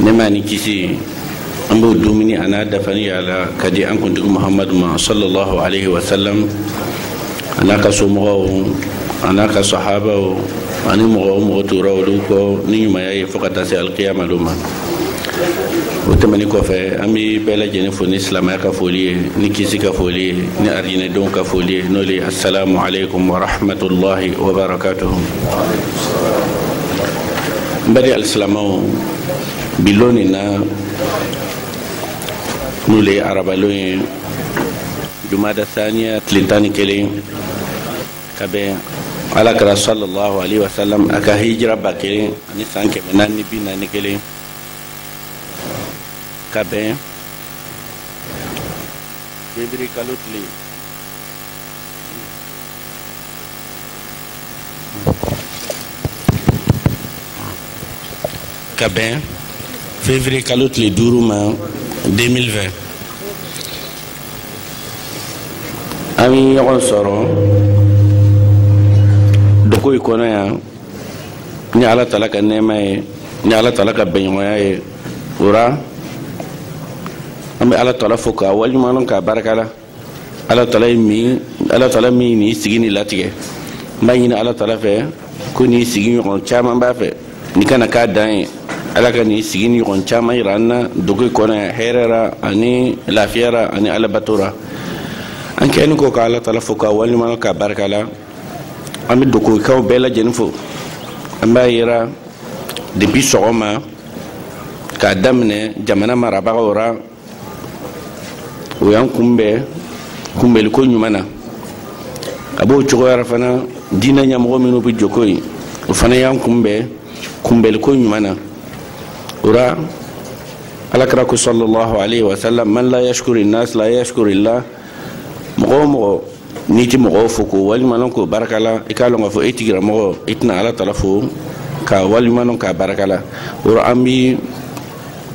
nɛɛma ni kisi an b'o duuminin a n'a dafanin y'ala k'a di an kuntigi muhamadu ma sallallahu alaihi wasallam a n'a ka somɔgɔw a n'a ka sahabaw ani mɔgɔ o mɔgɔ tugura olu kɔ ni ɲumanya ye fo ka taa se alikiyama lon ma o tɛmɛni kɔfɛ an bɛ bɛɛ lajɛlen fo ni silamɛya ka foli ye ni kisi ka foli ye ni arijinɛdenw ka foli ye n'o le asalamu aleykum wa rahmatulahi wa barakatuhu n baden alisilamɛw bi lon nin na n'o le ye arabalon ye jumada thaniya tile tan ni kelen ka bɛn ala kira sallallahu alaihi wasallam a ka hijira ba kelen ani san kɛmɛ naani ni bi naani ni kelen ka bɛn fevrier kalo tile ka bɛn février kalo tile duuru ma 2020 an ye ɲɔgɔn sɔrɔ duékoué kɔnɔ yan ni ala tala ka nɛɛma ye ni ala tala ka bɛnɲɔgɔnya ye o ra an bɛ ala tala fo k'a waleɲumanlɔn k'a barika la ala tala min ala tala min nin sigi nin latigɛ n b'a ɲini ala tala fɛ ko nin sigi nin ɲɔgɔn caman b'a fɛ nin kana k'a dan ye ala ka nin sigi nin ɲɔgɔn caman yira an na duékoué kɔnɔ hɛrɛ ra ani lafiya ra ani ala bato ra an kɛnin kɔ ka ala tala fo k'a waliɲuman k'a barika la an bɛ duékouékaw bɛɛ lajɛlen fo an b'a yira depi sɔgɔma k'a daminɛ jamana marabagaw ra o y'an kunbɛn kunbɛliko ɲuman na a b'o cogoya ra fana diinɛ ɲɛmɔgɔ minnu bɛ duékoué o fana y'an kunbɛn kunbɛliko ɲuman na o ra ala kira ko sallallahu alaihi wasallam man la yashukuri nas la yashukuri lah mɔgɔ o mɔgɔ n'i tɛ mɔgɔw fo k'o waliɲumanlɔn k'o baraka la i k'a lɔn k'a fɔ e tigi ra mɔgɔ i tɛna ala tala fo k'a waliɲumanlɔn k'a baraka la o ra an bi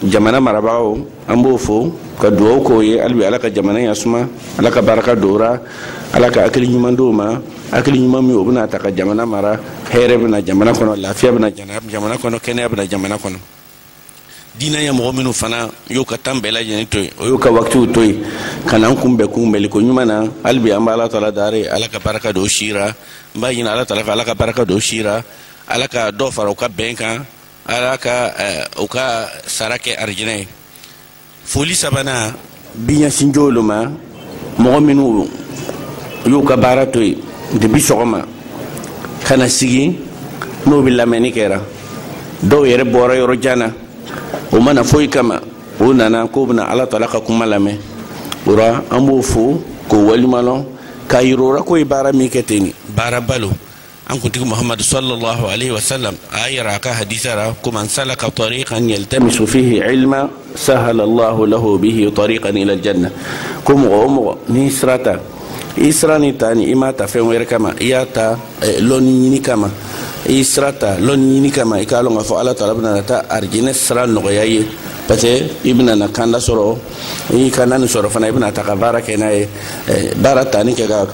jamana marabagaw an b'o fo ka dugawu k'o ye hali bi ala ka jamana ɲa suma ala ka baraka don o ra ala ka hakili ɲuman d'o ma hakili ɲuman min o bɛn'a ta ka jamana mara hɛrɛ bɛ na jamana kɔnɔ lafiya bɛ na jamana kɔnɔ kɛnɛya bɛ na jamana kɔnɔ diinɛ ɲɛmɔgɔ minnu fana y'u ka tan bɛɛ lajɛlen to yen o y'u ka wakitiw to yen ka n'an kunbɛn kunbɛliko ɲuman na hali bi an bɛ ala tala daari ala ka barika don u si ra n b'a ɲini ala tala fɛ ala ka barika don u si ra ala ka dɔ fara u ka bɛn kan ala ka eh, u ka sara kɛ arijinɛ ye foli sabanan bi ɲɛsin jɔn lo ma mɔgɔ minnu y'u ka baara to yen depuis sɔgɔma ka na sigi n'o bɛ lamɛnni kɛra dɔw yɛrɛ bɔra yɔrɔ jan na o ma na foyi kama o nana k'o bɛna ala tala ka kuma lamɛn o la an b'o fo k'o walimalɔn k'a yir'o la k'o ye baara min kɛ ten nin baaraba lo an kuntigi muhammadu sallallahu alaihi wasallam a y'a yira a ka hadisa ra ko man salaka tariqan yaltamisu fihi ilma sahhala allahu lahu bihi tariqan ila aljanna ko mɔgɔ o mɔgɔ n'i sira ta i sira nin tani i m'a ta fɛn wɛrɛ kama i y'a ta eh, lɔnni ɲini kama i sira ta lɔnni ɲini kama i k'a lɔn k'a fɔ ala taala bɛna taa arijinɛ sira nɔgɔya i ye parce que i bɛna na kalan sɔrɔ kalan nin sɔrɔ fana i bɛna ta ka baara kɛ n'a ye eh, baara tani kɛ ka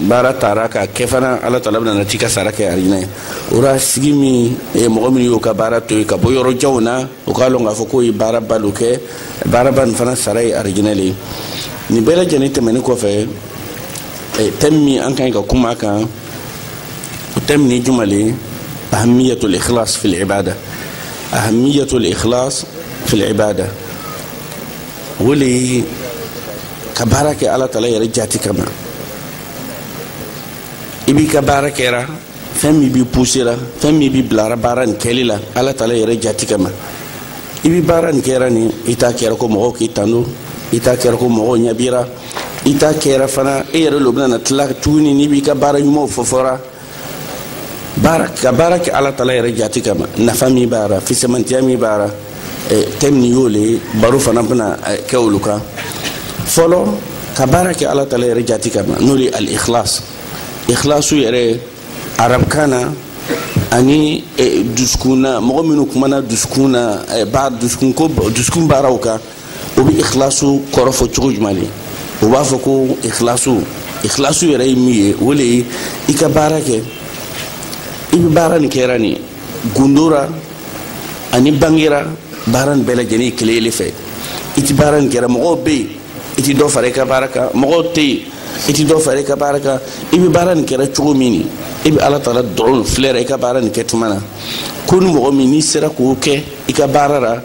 baara taara ka kɛ fana ala taala bɛna na t'i ka sara kɛ arijinɛ ye o la sigi min eh, mɔgɔ min y'o ka baara to yen ka bɔ yɔrɔ janw na o k'a lɔn k'a fɔ k'o ye baaraba lo kɛ baaraba nin fana sara ye arijinɛ le ye nin bɛɛ lajɛlen tɛmɛni kɔfɛ eh, thème min an ka ɲi ka kuma a kan o thème nin juman le ahamiyatul ikhlas fil ibada ahamiyatul ikhlas fil ibada o le ye ka baara kɛ ala tala yɛrɛ jati kama i b'i ka baara kɛra fɛn min b'i pusera fɛn min b'i bilara baara nin kɛli la ala tala yɛrɛ jati kama i bi baara nin kɛra nin i t'a kɛra ko mɔgɔw k'i tando i t'a kɛra ko mɔgɔw ɲa b'i ra i t'a kɛra fana e yɛrɛ lo bɛna na tila tuguni n'i b'i ka baara ɲumanw fɔfɔra baara ka baara kɛ ala tala yɛrɛ jati kama nafa min b'a ra fisamantiya min b'a ra eh, thème nin y'o le baro fana bɛna eh, kɛ olu kan fɔlɔ ka baara kɛ ala tala yɛrɛ jati kama n'o le al ikhlas ikhlasu yɛrɛ arabkan na ani eh, dusukun na mɔgɔ minnu kumana dusukun na ba dusukunko dusukun baaraw kan o bɛ ikhlasu kɔrɔfɔ cogo jumɛn de o b'a fɔ ko ikhlasu ikhlasu yɛrɛ ye min ye o de ye i ka baara kɛ i bɛ baara nin kɛra nin gundo ra ani bange ra baara nin bɛɛ lajɛlen ye kelen kelen fɛ i ti baara nin kɛra mɔgɔw bɛ yen i ti dɔ fara i ka baara kan mɔgɔw tɛ yen i ti dɔ fara i ka baara kan i bɛ baara nin kɛra cogo min nin i bɛ ala taala dɔrɔn filɛra i ka baara nin kɛ tuma na ko ni mɔgɔ min n'i sera k'o kɛ i ka baara la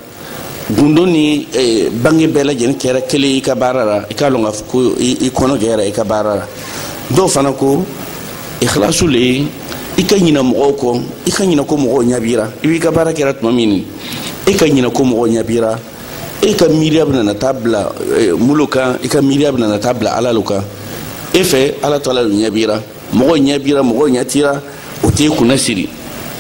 gundo ni eh, bange bɛɛ lajɛlen kɛra kelen i ka baara la i k'a lɔn k'a fɔ ko i kɔnɔ gwɛra i ka baara la dɔw fana ko ikhlasu le ye i ka ɲinɛ mɔgɔw kɔ i ka ɲinɛ ko mɔgɔw ɲa b'i ra i b'i ka baara kɛra tuma min e ka ɲinɛ ko mɔgɔw ɲa b'i ra e ka miiriya bɛna na taa bila eh, mun lo kan i ka miiriya bɛna na taa bila ala lo kan e fɛ ala taala lo ɲɛ b'i ra mɔgɔw ɲɛ b'i ra mɔgɔw ɲɛ t'i ra o t'i kunna siri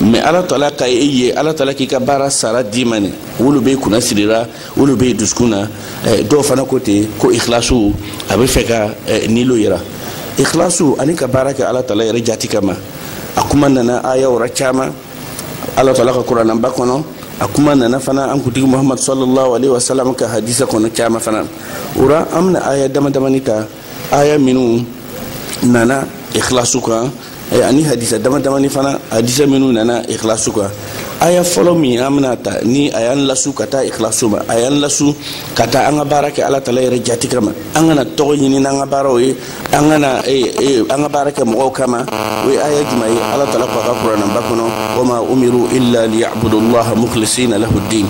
mɛ ala taala ka e ye ala taala k'i ka baara sara d'i ma nin o lo b'i kunna sirira o lo b'i dusukun na eh, dɔw fana ko ten ko ikhlasu a bɛ fɛ ka eh, nin lo yira ikhlasu ani ka baara kɛ ala taala yɛrɛ jati kama a kuma nana aya wɛrɛ caman ala taala ka kuranaba kɔnɔ a kuma nana fana an kuntigi muhamadu sallallahu alaihi wasallam ka hadisa kɔnɔ caman fana o ra an bɛna aya dama damani ta aya minnu nana ikhlasu kan eh, ani hadisa dama damani fana hadisa minnu nana ikhlasu kan aya fɔlɔ min an bɛna ta ni a y'an lasu ka taa ikhlasu ma a y'an lasu ka taa an ka baara kɛ ala taala yɛrɛ jati kama an kana tɔgɔ ɲini n'an ka baaraw ye an kana eh, eh, an ka baara kɛ mɔgɔw kama o ye aya juman ye ala taala ko a ka kuranaba kɔnɔ wama umiru illa liyabudu llaha mukhlisina lahu ddin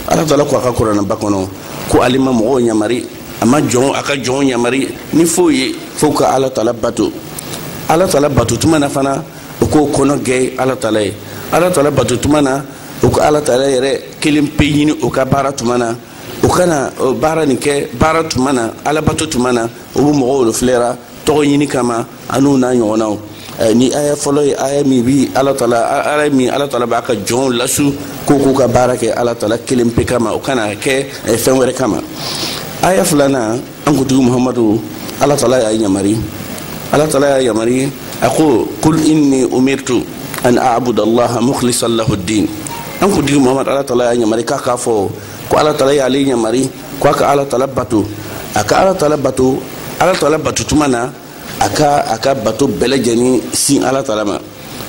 ala taala ko a ka kuranaba kɔnɔ ko ale ma mɔgɔw ɲamari a ma jɔn a ka jɔnw ɲamari ni foyi ye fo u ka ala taala bato ala taala bato tuma na fana u k'u kɔnɔ gwɛ ala taala ye ala taala bato tuma na u ka ala taala yɛrɛ kelen pe ɲini u ka baara tuma na u kana baara nin kɛ baara tuma na ala bato tuma na u bɛ mɔgɔw lo filɛra tɔgɔ ɲini kama an'u n'a ɲɔgɔnnaw eh, nin aya fɔlɔ ye aya min bi ala taala aya min ala taala b'a ka jɔnw lasu ko k'u ka baara kɛ ala taala kelen pe kama o kana kɛ eh, fɛn wɛrɛ kama aya filanan an kuntigi muhamadu ala taala y'a yamari ala taala y'a yamari a ko kul inni umirtu an abuda allaha mukhlisan lahu ddin an kuntigi muhamadu ala taala y'a yamari k'a k'a fɔ ko ala taala y'ale yamari ko a ka ala taala bato a ka ala taala bato ala taala bato tuma na a ka a ka bato bɛɛ lajɛlen sin ala taala ma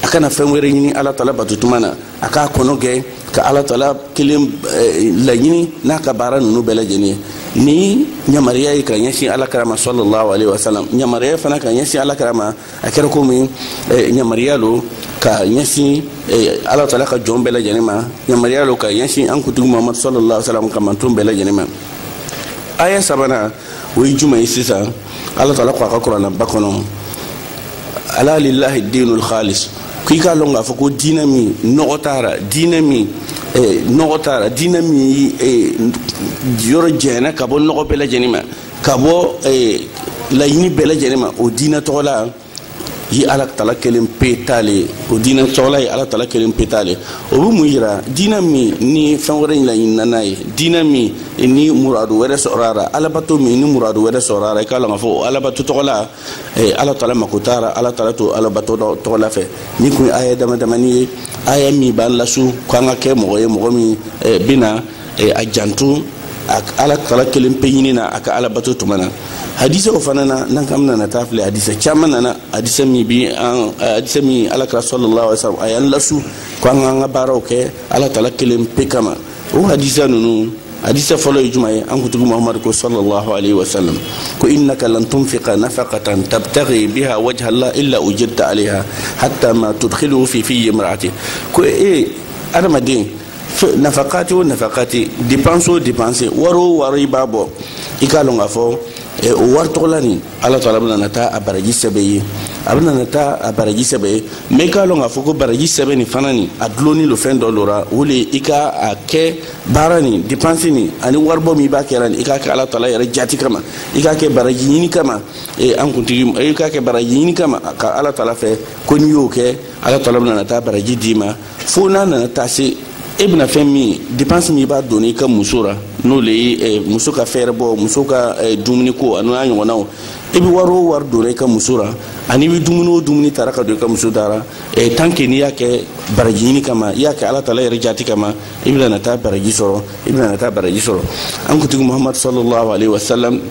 a kana fɛn wɛrɛ ɲini ala taala bato tuma na a k'a kɔnɔ gwɛ ka ala taala kelen eh, laɲini n'a ka baara ninnu bɛɛ lajɛlen ye nin ɲamariya ye ka ɲɛsin ala kira ma sallallahu alaihi wasallam ɲamariya fana ka ɲɛsin ala kira ma a kɛra komi eh, yamariya lo ka ɲɛsin eh, ala taala ka jɔn bɛɛ lajɛlen ma yamariya lo ka ɲɛsin an kuntigi mamadu sallallahu salam ka mantɔn bɛɛ lajɛlen ma aya sabanan o ye juman ye sisan ala taala ko a ka kuranaba kɔnɔ ala lillahi dinul khalis k'i k'a lɔn k'a fɔ ko diinɛ min nɔgɔ t'a ra diinɛ min eh, nɔgɔ t'a ra diinɛ min yɔrɔ janna ka bɔ nɔgɔ bɛɛ lajɛlen ma ka bɔ eh, laɲini bɛɛ lajɛlen ma o diinɛ tɔgɔla ye ala taala kelen pe ta le ye o diinɛ tɔgɔla ye ala taala kelen pe ta le o bɛ mun yira diinɛ min ni fɛn wɛrɛ laɲinina n'a ye diinɛ min ni muradu wɛrɛ sɔrɔ a la alabato min ni muradu wɛrɛ sɔrɔ a la i k'a lɔn k'a fɔ o alabato tɔgɔla eh, ala taala mako t'a la ala taala t'o alabato tɔgɔla fɛ nin kun ye aya dama damani ye aya min b'an lasu k'an ka kɛ mɔgɔ ye mɔgɔ min eh, bɛna e, a janto a ala taala kelen pe ɲini na a ka ala bato tuma na hadisa o fana na n'an k'an nana taa filɛ hadisa caman nana hadisa min bi an hadisa min ala kira sallallahu alaihi wasallam a y'an lasu ko an k'an ka baaraw kɛ ala taala kelen pe kama o hadisa ninnu hadisa fɔlɔ ye jumɛn ye an kuntigi muhamadu ko sallallahu alaihi wasallam ko innaka lan tunfiqa nafaqatan tabtaghi biha wajha allah illa ujirta alaiha hatta ma tudkhiluhu fi fi imra'atik ko e adamaden nafakati o nafakati dépense o dépense wari o wari i b'a bɔ i k'a lɔn k'a fɔ eh, o wari tɔgɔla nin ala taala bɛna na taa a baraji sɛbɛ ye a bɛna na taa a baraji sɛbɛ ye mais i k'a lɔn k'a fɔ ko baraji sɛbɛ nin fana nin a dulonnen lo fɛn dɔ lo ra o le i ka a kɛ baara nin dépense nin ani waribɔ min i b'a kɛra nin i k'a kɛ ala taala yɛrɛ jati kama i k'a kɛ baraji ɲini kama eh, an kuntigi eh, i k'a kɛ baraji ɲini kama ka ala taala fɛ ko n'i y'o kɛ ala taala bɛna na taa baraji d'i ma fo n'a nana taa se i bɛna fɛn min ye dépense min i b'a donna i ka muso ra n'o le ye eh, muso ka fɛɛrɛbɔ muso ka eh, dumuni ko an'o n'a ɲɔgɔnnaw i e bɛ wari o wari donna i ka muso ra ani i bɛ dumuni o dumuni tara ka don i ka muso da ra eh, tant que n'i y'a kɛ baraji ɲini kama i y'a kɛ ala taala yɛrɛ jati kama i bɛna na taa baraji sɔrɔ i bɛna na taa baraji sɔrɔ an kuntigi muhamadu sallallahu alaihi wasallam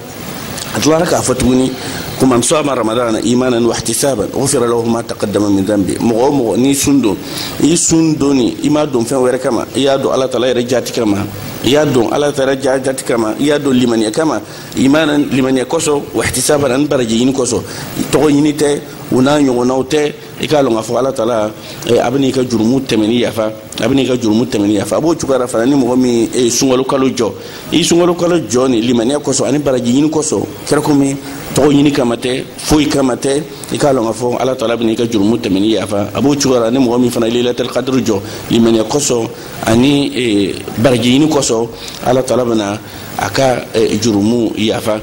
a tilara k'a fɔ tuguni ko man sama ramadana imanan wa ihtisaban ghufira lahu ma taqaddama min dhanbi mɔgɔ o mɔgɔ n'i sun don i sun donni i m'a don fɛn wɛrɛ kama i y'a don ala taala yɛrɛ jati kama i y'a don ala taala jati kama i y'a don limaniya kama imanan limaniya kosɔn wa ihtisaban ani baraji ɲini kosɔn tɔgɔ ɲini tɛ u n'a ɲɔgɔnnaw tɛ i k'a lɔn k'a fɔ ala taala eh, a bɛna i ka jurumu tɛmɛni yafa a bɛna i ka jurumu tɛmɛni yafa a b'o cogoya la fana ni mɔgɔ min eh, sunkalo kalo jɔ i sunkalo kalo jɔ nin limaniya kosɔn ani baraji ɲini kosɔn kɛra komi tɔgɔ ɲini kama tɛ foyi kama tɛ i k'a lɔn k'a fɔ ala taala bɛna i ka jurumu tɛmɛni yafa a b'o cogoya la ni mɔgɔ min fana ye lailatul kadiri jɔ limaniya kosɔn ani eh, baraji ɲini kosɔn ala taala bɛna a ka jurumu yafa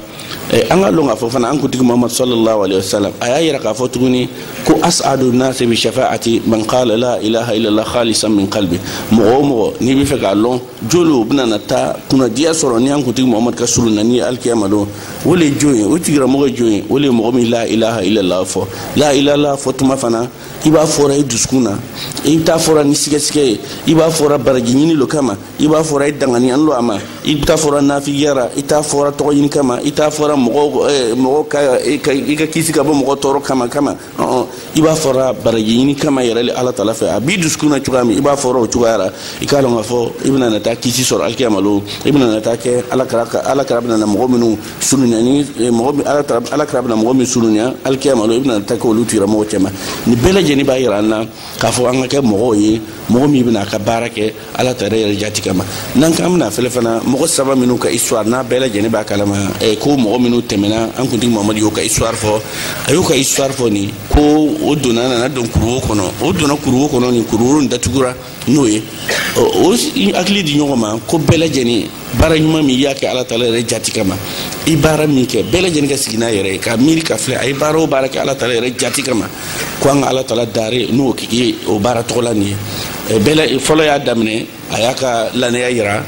Eh, an ka lɔn k'a fɔ fana an kuntigi muhamadu sallallahu alaihi wasallam a y'a yira k'a fɔ tuguni ko as'adu nasi bi shafa'ati man qala la ilaha illallah khalisan min qalbi mɔgɔ o mɔgɔ n'i b'a fɛ k'a lɔn jɔn lo bɛna na taa kunnadiya sɔrɔ ni an kuntigi muhamadu ka soronani alikiyama don o le ye jɔn ye o tigilamɔgɔ ye jɔn ye o le ye mɔgɔ min la ilaha illallah fɔ la ilaha fɔ tuma fana i b'a fɔra i dusukun na i t'a fɔra ni sigasiga ye i b'a fɔra baraji ɲini lo kama i b'a fɔra i danganiya lo a ma i t'a fɔra nafigiya ra i t'a fɔra tɔgɔ ɲini kama i t'a fɔra mɔgɔ eh, mɔgɔ ka i ka kisi ka bɔ mɔgɔ tɔɔrɔ kama kama i b'a fɔra baraji ɲini kama yɛrɛ le ala taala fɛ a b'i dusukun na cogoya min i b'a fɔra o cogoya la i k'a lɔn k'a fɔ i bɛna na taa kisi sɔrɔ alikiyama lon i bɛna na taa kɛ ala kira ala kira bɛna na mɔgɔ minnu sorona ni eh, mɔgɔ ala kira ala kira bɛna mɔgɔ min sorona alikiyama lon i bɛna na taa kɛ olu tigilamɔgɔ cɛma nin bɛɛ lajɛlen b'a yira an na k'a fɔ an ka kɛ mɔgɔw ye mɔgɔ min bɛna a ka baara kɛ ala taala yɛrɛ jati kama n'an k'an bɛna fɛlɛ fana mɔgɔ saba minnu ka histoire n'a bɛɛ lajɛlen b'a kalama eh, ko mɔgɔ minnu tɛmɛna an kuntigi mamadu y'o ka histoire fɔ a y'o ka histoire fɔ nin ko o donna nana don kuruwo kɔnɔ o donna kuruwo kɔnɔ nin kuruwo nin datugura n'o ye o hakili di ɲɔgɔn ma ko bɛɛ lajɛlen baara ɲuman min i y'a kɛ ala taala yɛrɛ jati kama i baara min kɛ bɛɛ lajɛlen ka sigi n'a yɛrɛ ye ka miiri ka filɛ a ye baara o baara kɛ ala taala yɛrɛ jati kama ko an ka ala taala dare n'o ye o baara tɔgɔ la nin ye fɔlɔ y'a daminɛ a y'a ka lanaya yira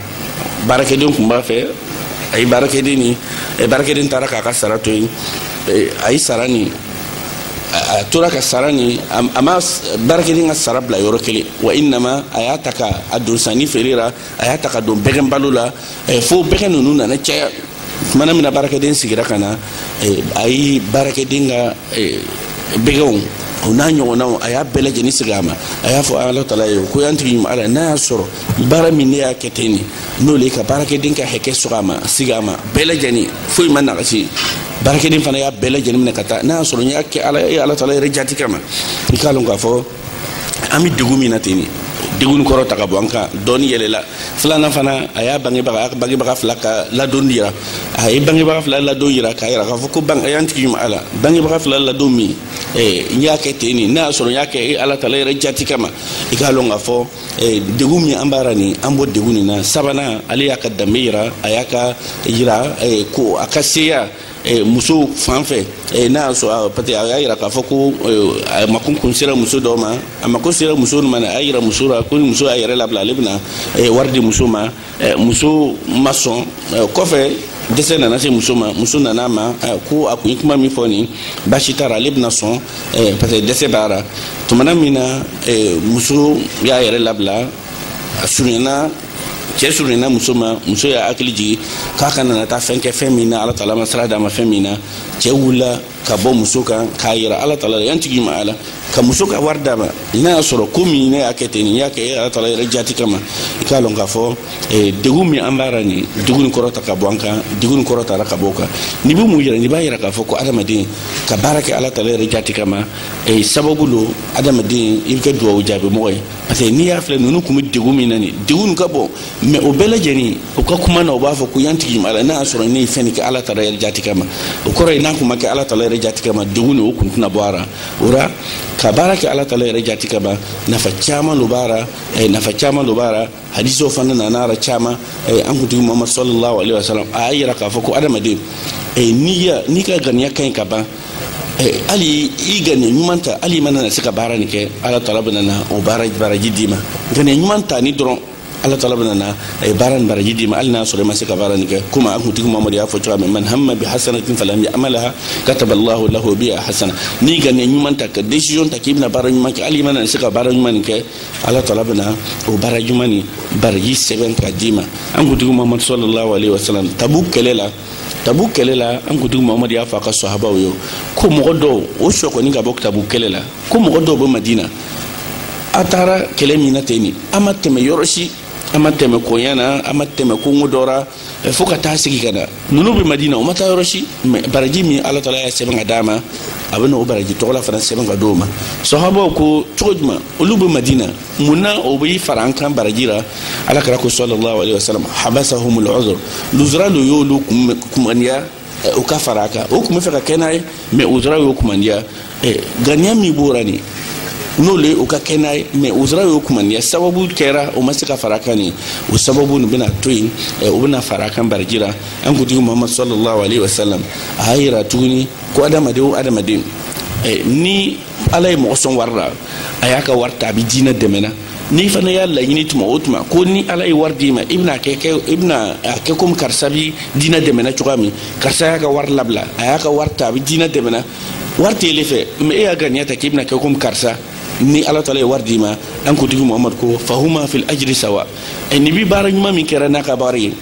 baarakɛden kun b'a fɛ a ye baarakɛden nin baarakɛden taara k'a ka sara to yen a ye sara nin a tora ka sara nin a ma baarakɛden ka sara bila yɔrɔ kelen wa innama a y'a ta ka a don sanni feere la a y'a ta ka don bɛgɛn balo la eh, fo bɛgɛn ninnu nana caya tumana min na baarakɛden segira ka na eh, a ye baarakɛden ka eh, bɛgɛnw o n'a ɲɔgɔnnaw a y'a bɛɛ lajɛlen segi a ma a y'a fɔ ala taala ye ko y'an tigi ɲuman ala n'a y'a sɔrɔ baara min ne y'a kɛ ten nin n'o le ka baarakɛden ka hakɛ sɔgɔ a ma segi a ma bɛɛ lajɛlen foyi ma nagasi baarakɛden fana y'a bɛɛ lajɛlen minɛ ka taa n'a y'a sɔrɔ n y'a kɛ ala ye ala taala yɛrɛ jati kama i k'a lɔn k'a fɔ an bɛ degun min na ten nin degun kɔrɔta ka bɔ an kan dɔɔni yɛlɛla filanan fana a y'a bangebaga a ka bangebaga fila ka ladon yira a ye bangebaga fila ladon yira k'a yira k'a fɔ ko a y'an tigi ɲuman ala bangebaga fila ladon min n y'a kɛ ten nin n'a y'a sɔrɔ n y'a kɛ e ala taala yɛrɛ jati kama i k'a lɔn k'a fɔ degun min an b'a ra nin an bɔ degun nin na sabanan ale y'a ka danbe yira a y'a ka yira ko a ka seya Eh, muso fan fɛ eh, n'a y'a sɔrɔ ah, parce que a y'a yira k'a fɔ ko eh, a mako kun sera muso dɔ ma a mako sera muso ma a y'a yira muso la ko ni muso y'a yɛrɛ labila ale bɛna wari di muso ma muso ma sɔn kɔfɛ dɛsɛ nana se muso ma muso nana a ma ko a kun ye kuma min fɔ nin basi t'a la ale bɛna sɔn parce que dɛsɛ b'a la tumana min na muso y'a yɛrɛ labila a surunyana cɛ surunyana muso ma muso y'a hakili jigi k'a kana na taa fɛn kɛ fɛn min na ala taala ma sira d'a ma fɛn min na cɛ wulila ka bɔ muso kan k'a yira ala taala la y'an tigi ma ala ka muso ka wari d'a ma n'a y'a sɔrɔ ko min ne y'a kɛ ten nin n y'a kɛ e ala taala yɛrɛ jati kama i k'a lɔn k'a fɔ eh, degun min an b'a ra nin degun nin kɔrɔta ka bɔ an kan degun nin kɔrɔtara ka bɔ o kan nin bɛ mun yira nin b'a yira k'a fɔ ko adamaden ka baara kɛ ala taala yɛrɛ jati kama eh, sababu lo adamaden i bɛ kɛ duwawu jaabimɔgɔ ye parce que n'i y'a filɛ ninnu tun bɛ degun min na nin degun nin ka bon mais o bɛɛ lajɛlen u ka kuma na u b'a fɔ ko y'an tigi ma ala n'a y'a sɔrɔ ne ye fɛn nin kɛ ala taala yɛrɛ jati kama o kɔrɔ ye n'a tun ma kɛ ala taala yɛrɛ jati kama degun nin o kun tɛna bɔ a ra o ra ka baara kɛ ala taala yɛrɛ jati kama nafa caman lo b'a ra eh, nafa caman lo b'a ra hadisiw fana nana a ra caman eh, an kuntigi muhamadu sallallahu alaihi wasalam a y'a yira k'a fɔ ko adamaden eh, n'i ka ŋaniya ka ɲi ka ban hali i ganiya ɲuman ta hali i ma na se ka baara nin kɛ ala taala bɛna na o baara baraji d'i ma ganiya ɲuman ta ni dɔrɔn ala taala bɛna na o baara nin baraji d'i ma hali n'a sɔrɔ i ma se ka baara nin kɛ komi an kuntigi muhamadu y'a fɔ cogoya min man hamma bi hasanatin falam yamalha kataballahu lahu biha hasana n'i ganiya ɲuman ta ka decision ta k'i bɛna baara ɲuman kɛ hali i ma na se ka baara ɲuman nin kɛ ala taala bɛna o baara ɲuman nin baraji sɛbɛn ka d'i ma an kuntigi muhamadu sallallahu alaihi wasalam tabuk kɛlɛ la tabuk kɛlɛ la an kuntigi mahamadu y'a fɔ a ka sahabaw ye ko mɔgɔ dɔw o sekɔni ka bɔ tabuk kɛlɛ la ko mɔgɔ dɔw bɛ madina an taara kɛlɛ min na ten nin an ma tɛmɛ yɔrɔ si an ma tɛmɛ koɲa na an ma tɛmɛ kongo dɔ ra fo ka taa segin ka na ninnu bɛ madina o ma taa yɔrɔ si mɛ baraji min ala taala y'a sɛbɛn ka d'an ma a bɛna o baraji tɔgɔla fana sɛbɛn ka d'o ma sahabaw ko cogo jumɛn olu bɛ madina mun na o bɛ fara an kan baraji la ala kira ko sallallahu alayhi wa sallam habasahumul uzur luzura de y'olu kumandiya eh, u ka fara an kan o tun b'a fɛ ka kɛ n'an ye mɛ uzura y'o kumandiya eh, ganiya min b'o la nin n'o le ye u ka kɛ n'an ye mɛ uzura y'o kumandiya sababu kɛra o ma se ka fara an kan nin o sababu nin bɛna to yen eh, o bɛna fara an kan baraji la an kuntigi muhamadu sallallahu alayhi wa sallam a y'a yira tuguni ko adamaden o adamaden ni ala ye mɔgɔ sɔn wari la a y'a ka wari ta a bɛ diinɛ dɛmɛna n'i fana y'a laɲini tuma o tuma ko ni ala ye wari d'i ma i bɛna kɛ kɛ i bɛna a kɛ komi karisa bi diinɛ dɛmɛna cogoya min karisa y'a ka wari labila a y'a ka wari ta a bɛ diinɛ dɛmɛna wari t'ele fɛ mɛ e y'a ganiya ta k'i bɛna kɛ komi karisa ni ala taala ye wari d'i ma an kuntigi muhamadu ko fahuma fil ajiri sawa nin bi baara ɲuman min kɛra n'a ka wari ye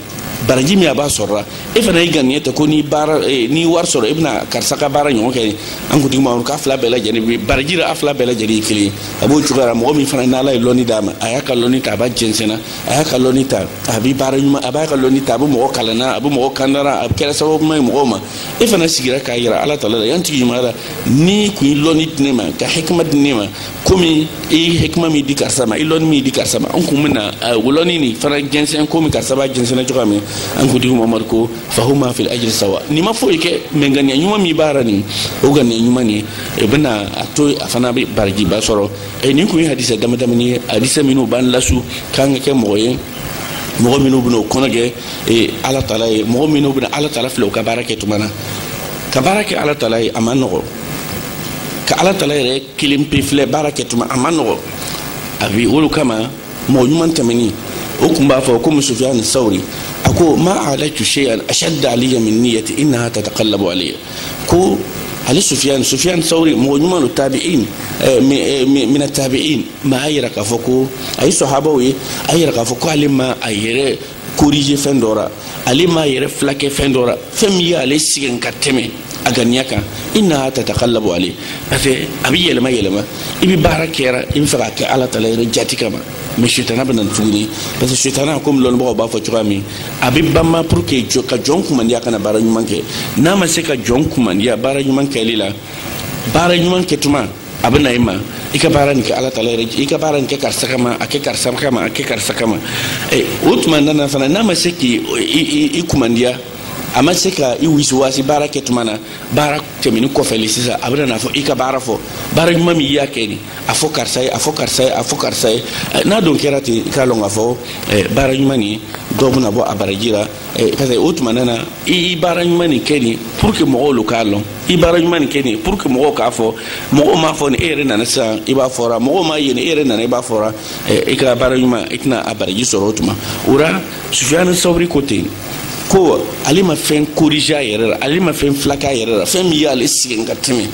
baraji min a b'a sɔrɔ la e fana y'i ganiya ta ko ni baara eh, n'i wari sɔrɔ e bɛna karisa ka baara ɲɔgɔn kɛ an kuntigi muhamadu k'a fila bɛɛ lajɛlen bɛ baraji la a fila bɛɛ lajɛlen ye kelen ye a b'o cogoya la mɔgɔ min fana n'ala ye lɔnni d'a ma a y'a ka lɔnni ta a b'a jɛnsɛnna a y'a ka lɔnni ta a bɛ baara ɲuman a b'a ka lɔnni ta a bɛ mɔgɔ kalanna a bɛ mɔgɔ kandara a bɛ kɛra sababu ɲuman ye mɔgɔw ma e fana sigira k'a yira ala tala la ya n tigi ɲuman ala n'i kun ye lɔnni di ne ma ka hikima di ne ma komi i hikima min di karisa ma i lɔnni min di karisa ma n kun bɛna o lɔnni nin fana jɛnsɛn komi karisa b'a jɛnsɛnna cogoya min an kuntigi muhamadu ko fahuma fil ajiri sawa nin ma foyi kɛ mɛ ŋaniya ɲuman min b'a la nin o ŋaniya ɲuman nin o bɛna a to a fana bɛ barajiba sɔrɔ ɛ nin kun ye hadisa damadamani ye hadisa minnu b'an lasu k'an ka kɛ mɔgɔ ye mɔgɔ minnu bɛna o kɔnɔ gwɛ ala tala ye mɔgɔ minnu bɛna ala tala filɛ u ka baara kɛ tuma na ka baara kɛ ala tala ye a man nɔgɔ ka ala tala yɛrɛ kelen pe filɛ baara kɛ tuma a man nɔgɔ a bi o le kama mɔgɔ ɲuman tɛmɛnin o kun b'a fɔ komi sufiyan sawuri a ko ma alaitu shay'an ashadda alayya min niyyati innaha tataqallabu alayya ko ale sufiyan sufiyan sawri mɔgɔ ɲuman don tabi'in mina tabi'in ma a yira k'a fɔ ko a ye sahabaw ye a yira k'a fɔ ko ale ma a yɛrɛ korije fɛn dɔ ra ale m'a yɛrɛ filakɛ fɛn dɔ ra fɛn min y'ale sɛgɛn ka tɛmɛ a ganiya kan innaha tataqallabu alayya parce que a bɛ yɛlɛma yɛlɛma i bɛ baara kɛra i b'a fɛ k'a kɛ ala taala yɛrɛ jati kama mɛ setana bɛ na tuguni parce que setana komi lɔnnibagaw b'a fɔ cogoya min a bɛ banma pour que jɔ ka jɔn kumandiya kana baara ɲuman kɛ n'a ma se ka jɔn kumandiya baara ɲuman kɛli la baara ɲuman kɛtuma a bɛ na i ma i ka baara nin kɛ ala taala yɛrɛ i ka baara nin kɛ karisa kama a kɛ karisa kama a kɛ karisa kama eh, o tuma nana fana n'a ma se k'i i kumandiya a ma se ka i wisiwasi baara kɛ tuma na baara tɛmɛnin kɔfɛ le sisan a bɛna n'a fɔ i ka baara fɔ baara ɲuman min i y'a kɛ nin a fɔ karisa ye a fɔ karisa ye a fɔ karisa ye eh, n'a don kɛra ten i k'a lɔn k'a fɔ eh, baara ɲuman nin dɔ bɛna bɔ a baraji ra Eh, parce que o tuma nana i baara ɲuman nin kɛnin pour que mɔgɔw lo k'a lɔn i baara ɲuman nin kɛnin pour que mɔgɔw k'a fɔ mɔgɔw m'a fɔ ni e yɛrɛ nana sisan i b'a fɔra mɔgɔw m'a ye ni e yɛrɛ nana i b'a fɔra eh, i ka baara ɲuman i tɛna a baraji sɔrɔ o tuma o ra sufiyani sawuri ko ten ko ale ma fɛn korije a yɛrɛ la ale ma fɛn filak'a yɛrɛ la fɛn min y'ale sɛgɛn ka tɛmɛ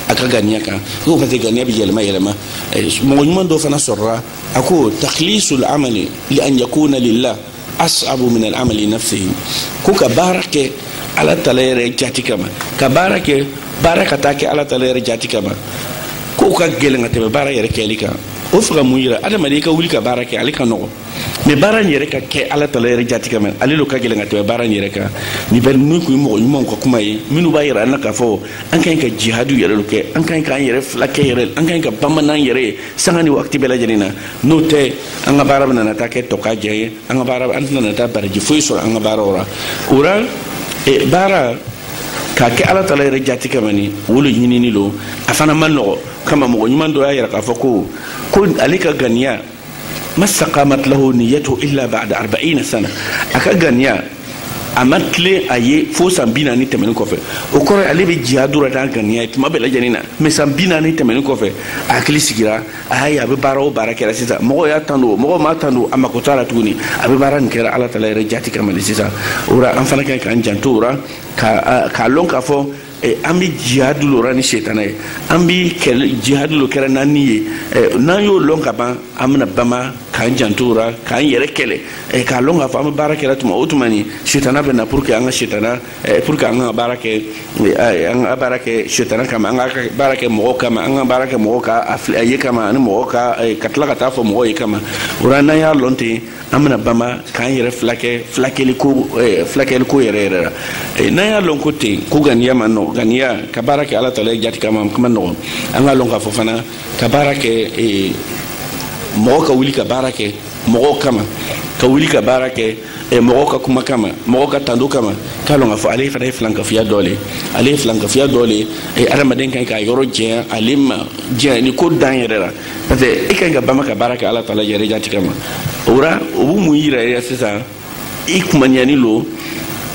a ka ganiya kan ko parce que ganiya bɛ yɛlɛma yɛlɛma eh, mɔgɔ ɲuman dɔ fana sɔrɔla a ko takhlisul amali li an yakuna lillah as'abu min al-amali nafsihi ko ka baara kɛ ala taala yɛrɛ jati kama ka baara kɛ baara ka taa kɛ ala taala yɛrɛ jati kama ko o ka gɛlɛn ka tɛmɛ baara yɛrɛ kɛli kan o fɛ ka mun yira adamaden i ka wuli ka baara kɛ ale ka nɔgɔ mɛ baara in yɛrɛ ka kɛ ala taala yɛrɛ jati kama ale lo ka gɛlɛn ka tɛmɛ baara in yɛrɛ kan nin bɛɛ ni kun ye mɔgɔ ɲumanw ka kuma ye minnu b'a yira an na k'a fɔ an ka ɲi ka jihadu yɛrɛ lo kɛ an ka ɲi k'an yɛrɛ filakɛ yɛrɛ an ka ɲi ka bama n'an yɛrɛ sanga ni wagati bɛɛ lajɛlen na n'o tɛ an ka baara bɛna taa kɛ tɔkajɛ ye an ka baara an tɛna taa baraji foyi sɔrɔ an ka baaraw ra o ra e, baara k'a kɛ ala taala yɛrɛ jati kama ni o le ɲinini lo a fana man nɔgɔ kama mɔgɔ ɲuman dɔ y'a yira k'a fɔ ko ko ale ka ganiya ma staqamat lahu niyatuhu illa ba'da arba'ina sana a ka ganiya a ma tilen a ye fo san bi naani tɛmɛni kɔfɛ o kɔrɔ ale bɛ jihadu ra n'a ganiya ye tuma bɛɛ lajɛlen na mɛ san bi naani tɛmɛni kɔfɛ a hakili sigira a y'a ye a bɛ baara o baara kɛra sisan mɔgɔw y'a tando mɔgɔw m'a tando a mako t'a ra tuguni a bɛ baara nin kɛra ala taala yɛrɛ jati kama le sisan o ra an fana ka ɲi k'an janto o ra k'a lɔn k'a fɔ Eh, an bɛ jihadu lo ra ni setana ye an bɛ jihadu lo kɛra n'an ni ye eh, n'an y'o lɔn ka ban an bɛna bama k'an janto o ra k'an yɛrɛ kɛlɛ eh, k'a lɔn k'a fɔ an bɛ baara kɛra tuma o tuma ni setana bɛ na pour que an ka setana pour que an ka baara kɛ an ka baara kɛ setana kama an ka baara kɛ mɔgɔw kama an ka baara kɛ mɔgɔw ka a ye kama ani mɔgɔw ka ka tila ka taa fɔ mɔgɔw ye kama o ra n'an y'a lɔn ten an bɛna bama k'an yɛrɛ filakɛ filakɛliko eh, filakɛliko yɛrɛ yɛrɛ la eh, n'an y'a lɔn ko ten ko ganiya man nɔgɔ ganiya ka baara kɛ ala tala yɛrɛ jati kama k'o man nɔgɔ an k'a lɔn k'a fɔ fana ka baara kɛ eh, mɔgɔ ka wuli ka baara kɛ mɔgɔw kama ka wuli ka baara kɛ mɔgɔw ka kuma kama mɔgɔw ka tando kama k'a lɔn k'a fɔ ale fana ye filankafiya dɔ le ale ye filankafiya dɔ le adamaden kan k'a yɔrɔ janya ale ma janya ni ko dan yɛrɛ la parce que e kan ka bama ka baara kɛ ala taala yɛrɛ jati kama o ra o bɛ mun yira e ra sisan i kumaniyani lo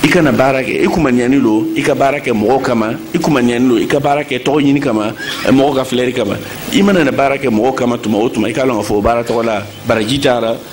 i kana baara kɛ i kumaniyani lo i ka baara kɛ mɔgɔw kama i kumaniyani lo i ka baara kɛ tɔgɔ ɲini kama eh, mɔgɔ ka filɛri kama i mana na baara kɛ mɔgɔw kama tuma o tuma i k'a lɔn k'a fɔ o baara tɔgɔ la baraji tara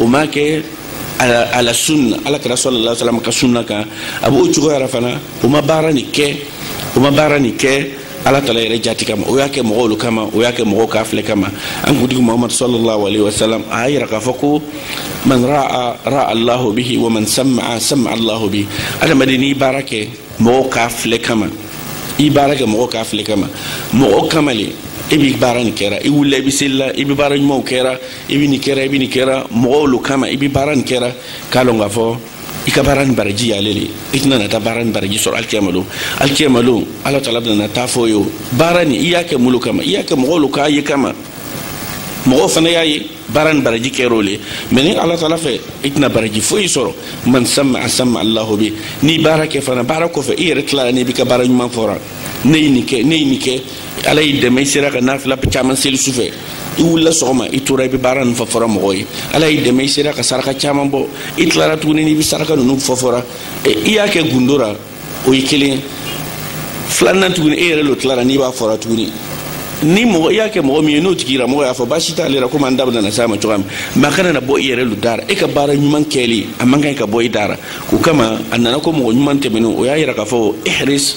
o m'a kɛ ala sunna ala kira sallallahu alaihi wasallam ka sunna kan a b'o cogoya la fana o ma baara nin kɛ o ma baara nin kɛ ala tala yɛrɛ jati kama o y'a kɛ mɔgɔw kama o y'a kɛ mɔgɔw k'a filɛ kama an kuntigi muhamadu sallallahu alaihi wasallam a y'a yira k'a fɔ ko man ra'a ra'a allahu bihi wa man sama'a sama'a allahu bihi adamaden n'i baara kɛ mɔgɔw k'a filɛ kama i baara kɛ mɔgɔw k'a filɛ kama mɔgɔw kama le e b'i baara nin kɛra i wulila i bɛ selila i bɛ baara ɲumanw kɛra i bɛ nin kɛra i bɛ nin kɛra mɔgɔw lo kama i bɛ baara nin kɛra k'a lɔn k'a fɔ i ka baara nin baraji y'ale le i tɛna na taa baara nin baraji sɔrɔ alikiyama lon alikiyama lon ala taala bɛna na taa fɔ i ye ko baara nin i y'a kɛ mun lo kama i y'a kɛ mɔgɔw lo k'a ye kama mɔgɔw fana y'a ye baara nin baraji kɛra o le mɛ ni ala taala fɛ i tɛna baraji foyi sɔrɔ man sama'a sama'a allahu bihi n'i baara kɛ fana baara kɔfɛ i yɛrɛ tilara n'i b'i ka baara ɲuman fɔra ne ye nin kɛ ne ye nin kɛ ala y'i dɛmɛ i sera ka nafila caman seli sufɛ i wulila sɔgɔma i tora i bɛ baara ninnu fɔfɔra mɔgɔ ye ala y'i dɛmɛ i sera ka saraka caman bɔ i tilara tuguni n'i bɛ saraka ninnu fɔfɔra i y'a kɛ gundo la o ye kelen ye filanan tuguni e yɛrɛ lo tilara n'i b'a fɔra tuguni ni mɔgɔ i y'a kɛ mɔgɔ min ye n'o tigi yira mɔgɔ y'a fɔ baasi t'ale la komi an da bɛna na s'a ma cogoya min mɛ a kana na bɔ i yɛrɛ lo da ra e ka baara ɲuman kɛli a man kan ka bɔ i da ra o kama a nana ko mɔgɔ ɲuman tɛmɛnenw o y'a yira k'a fɔ ihris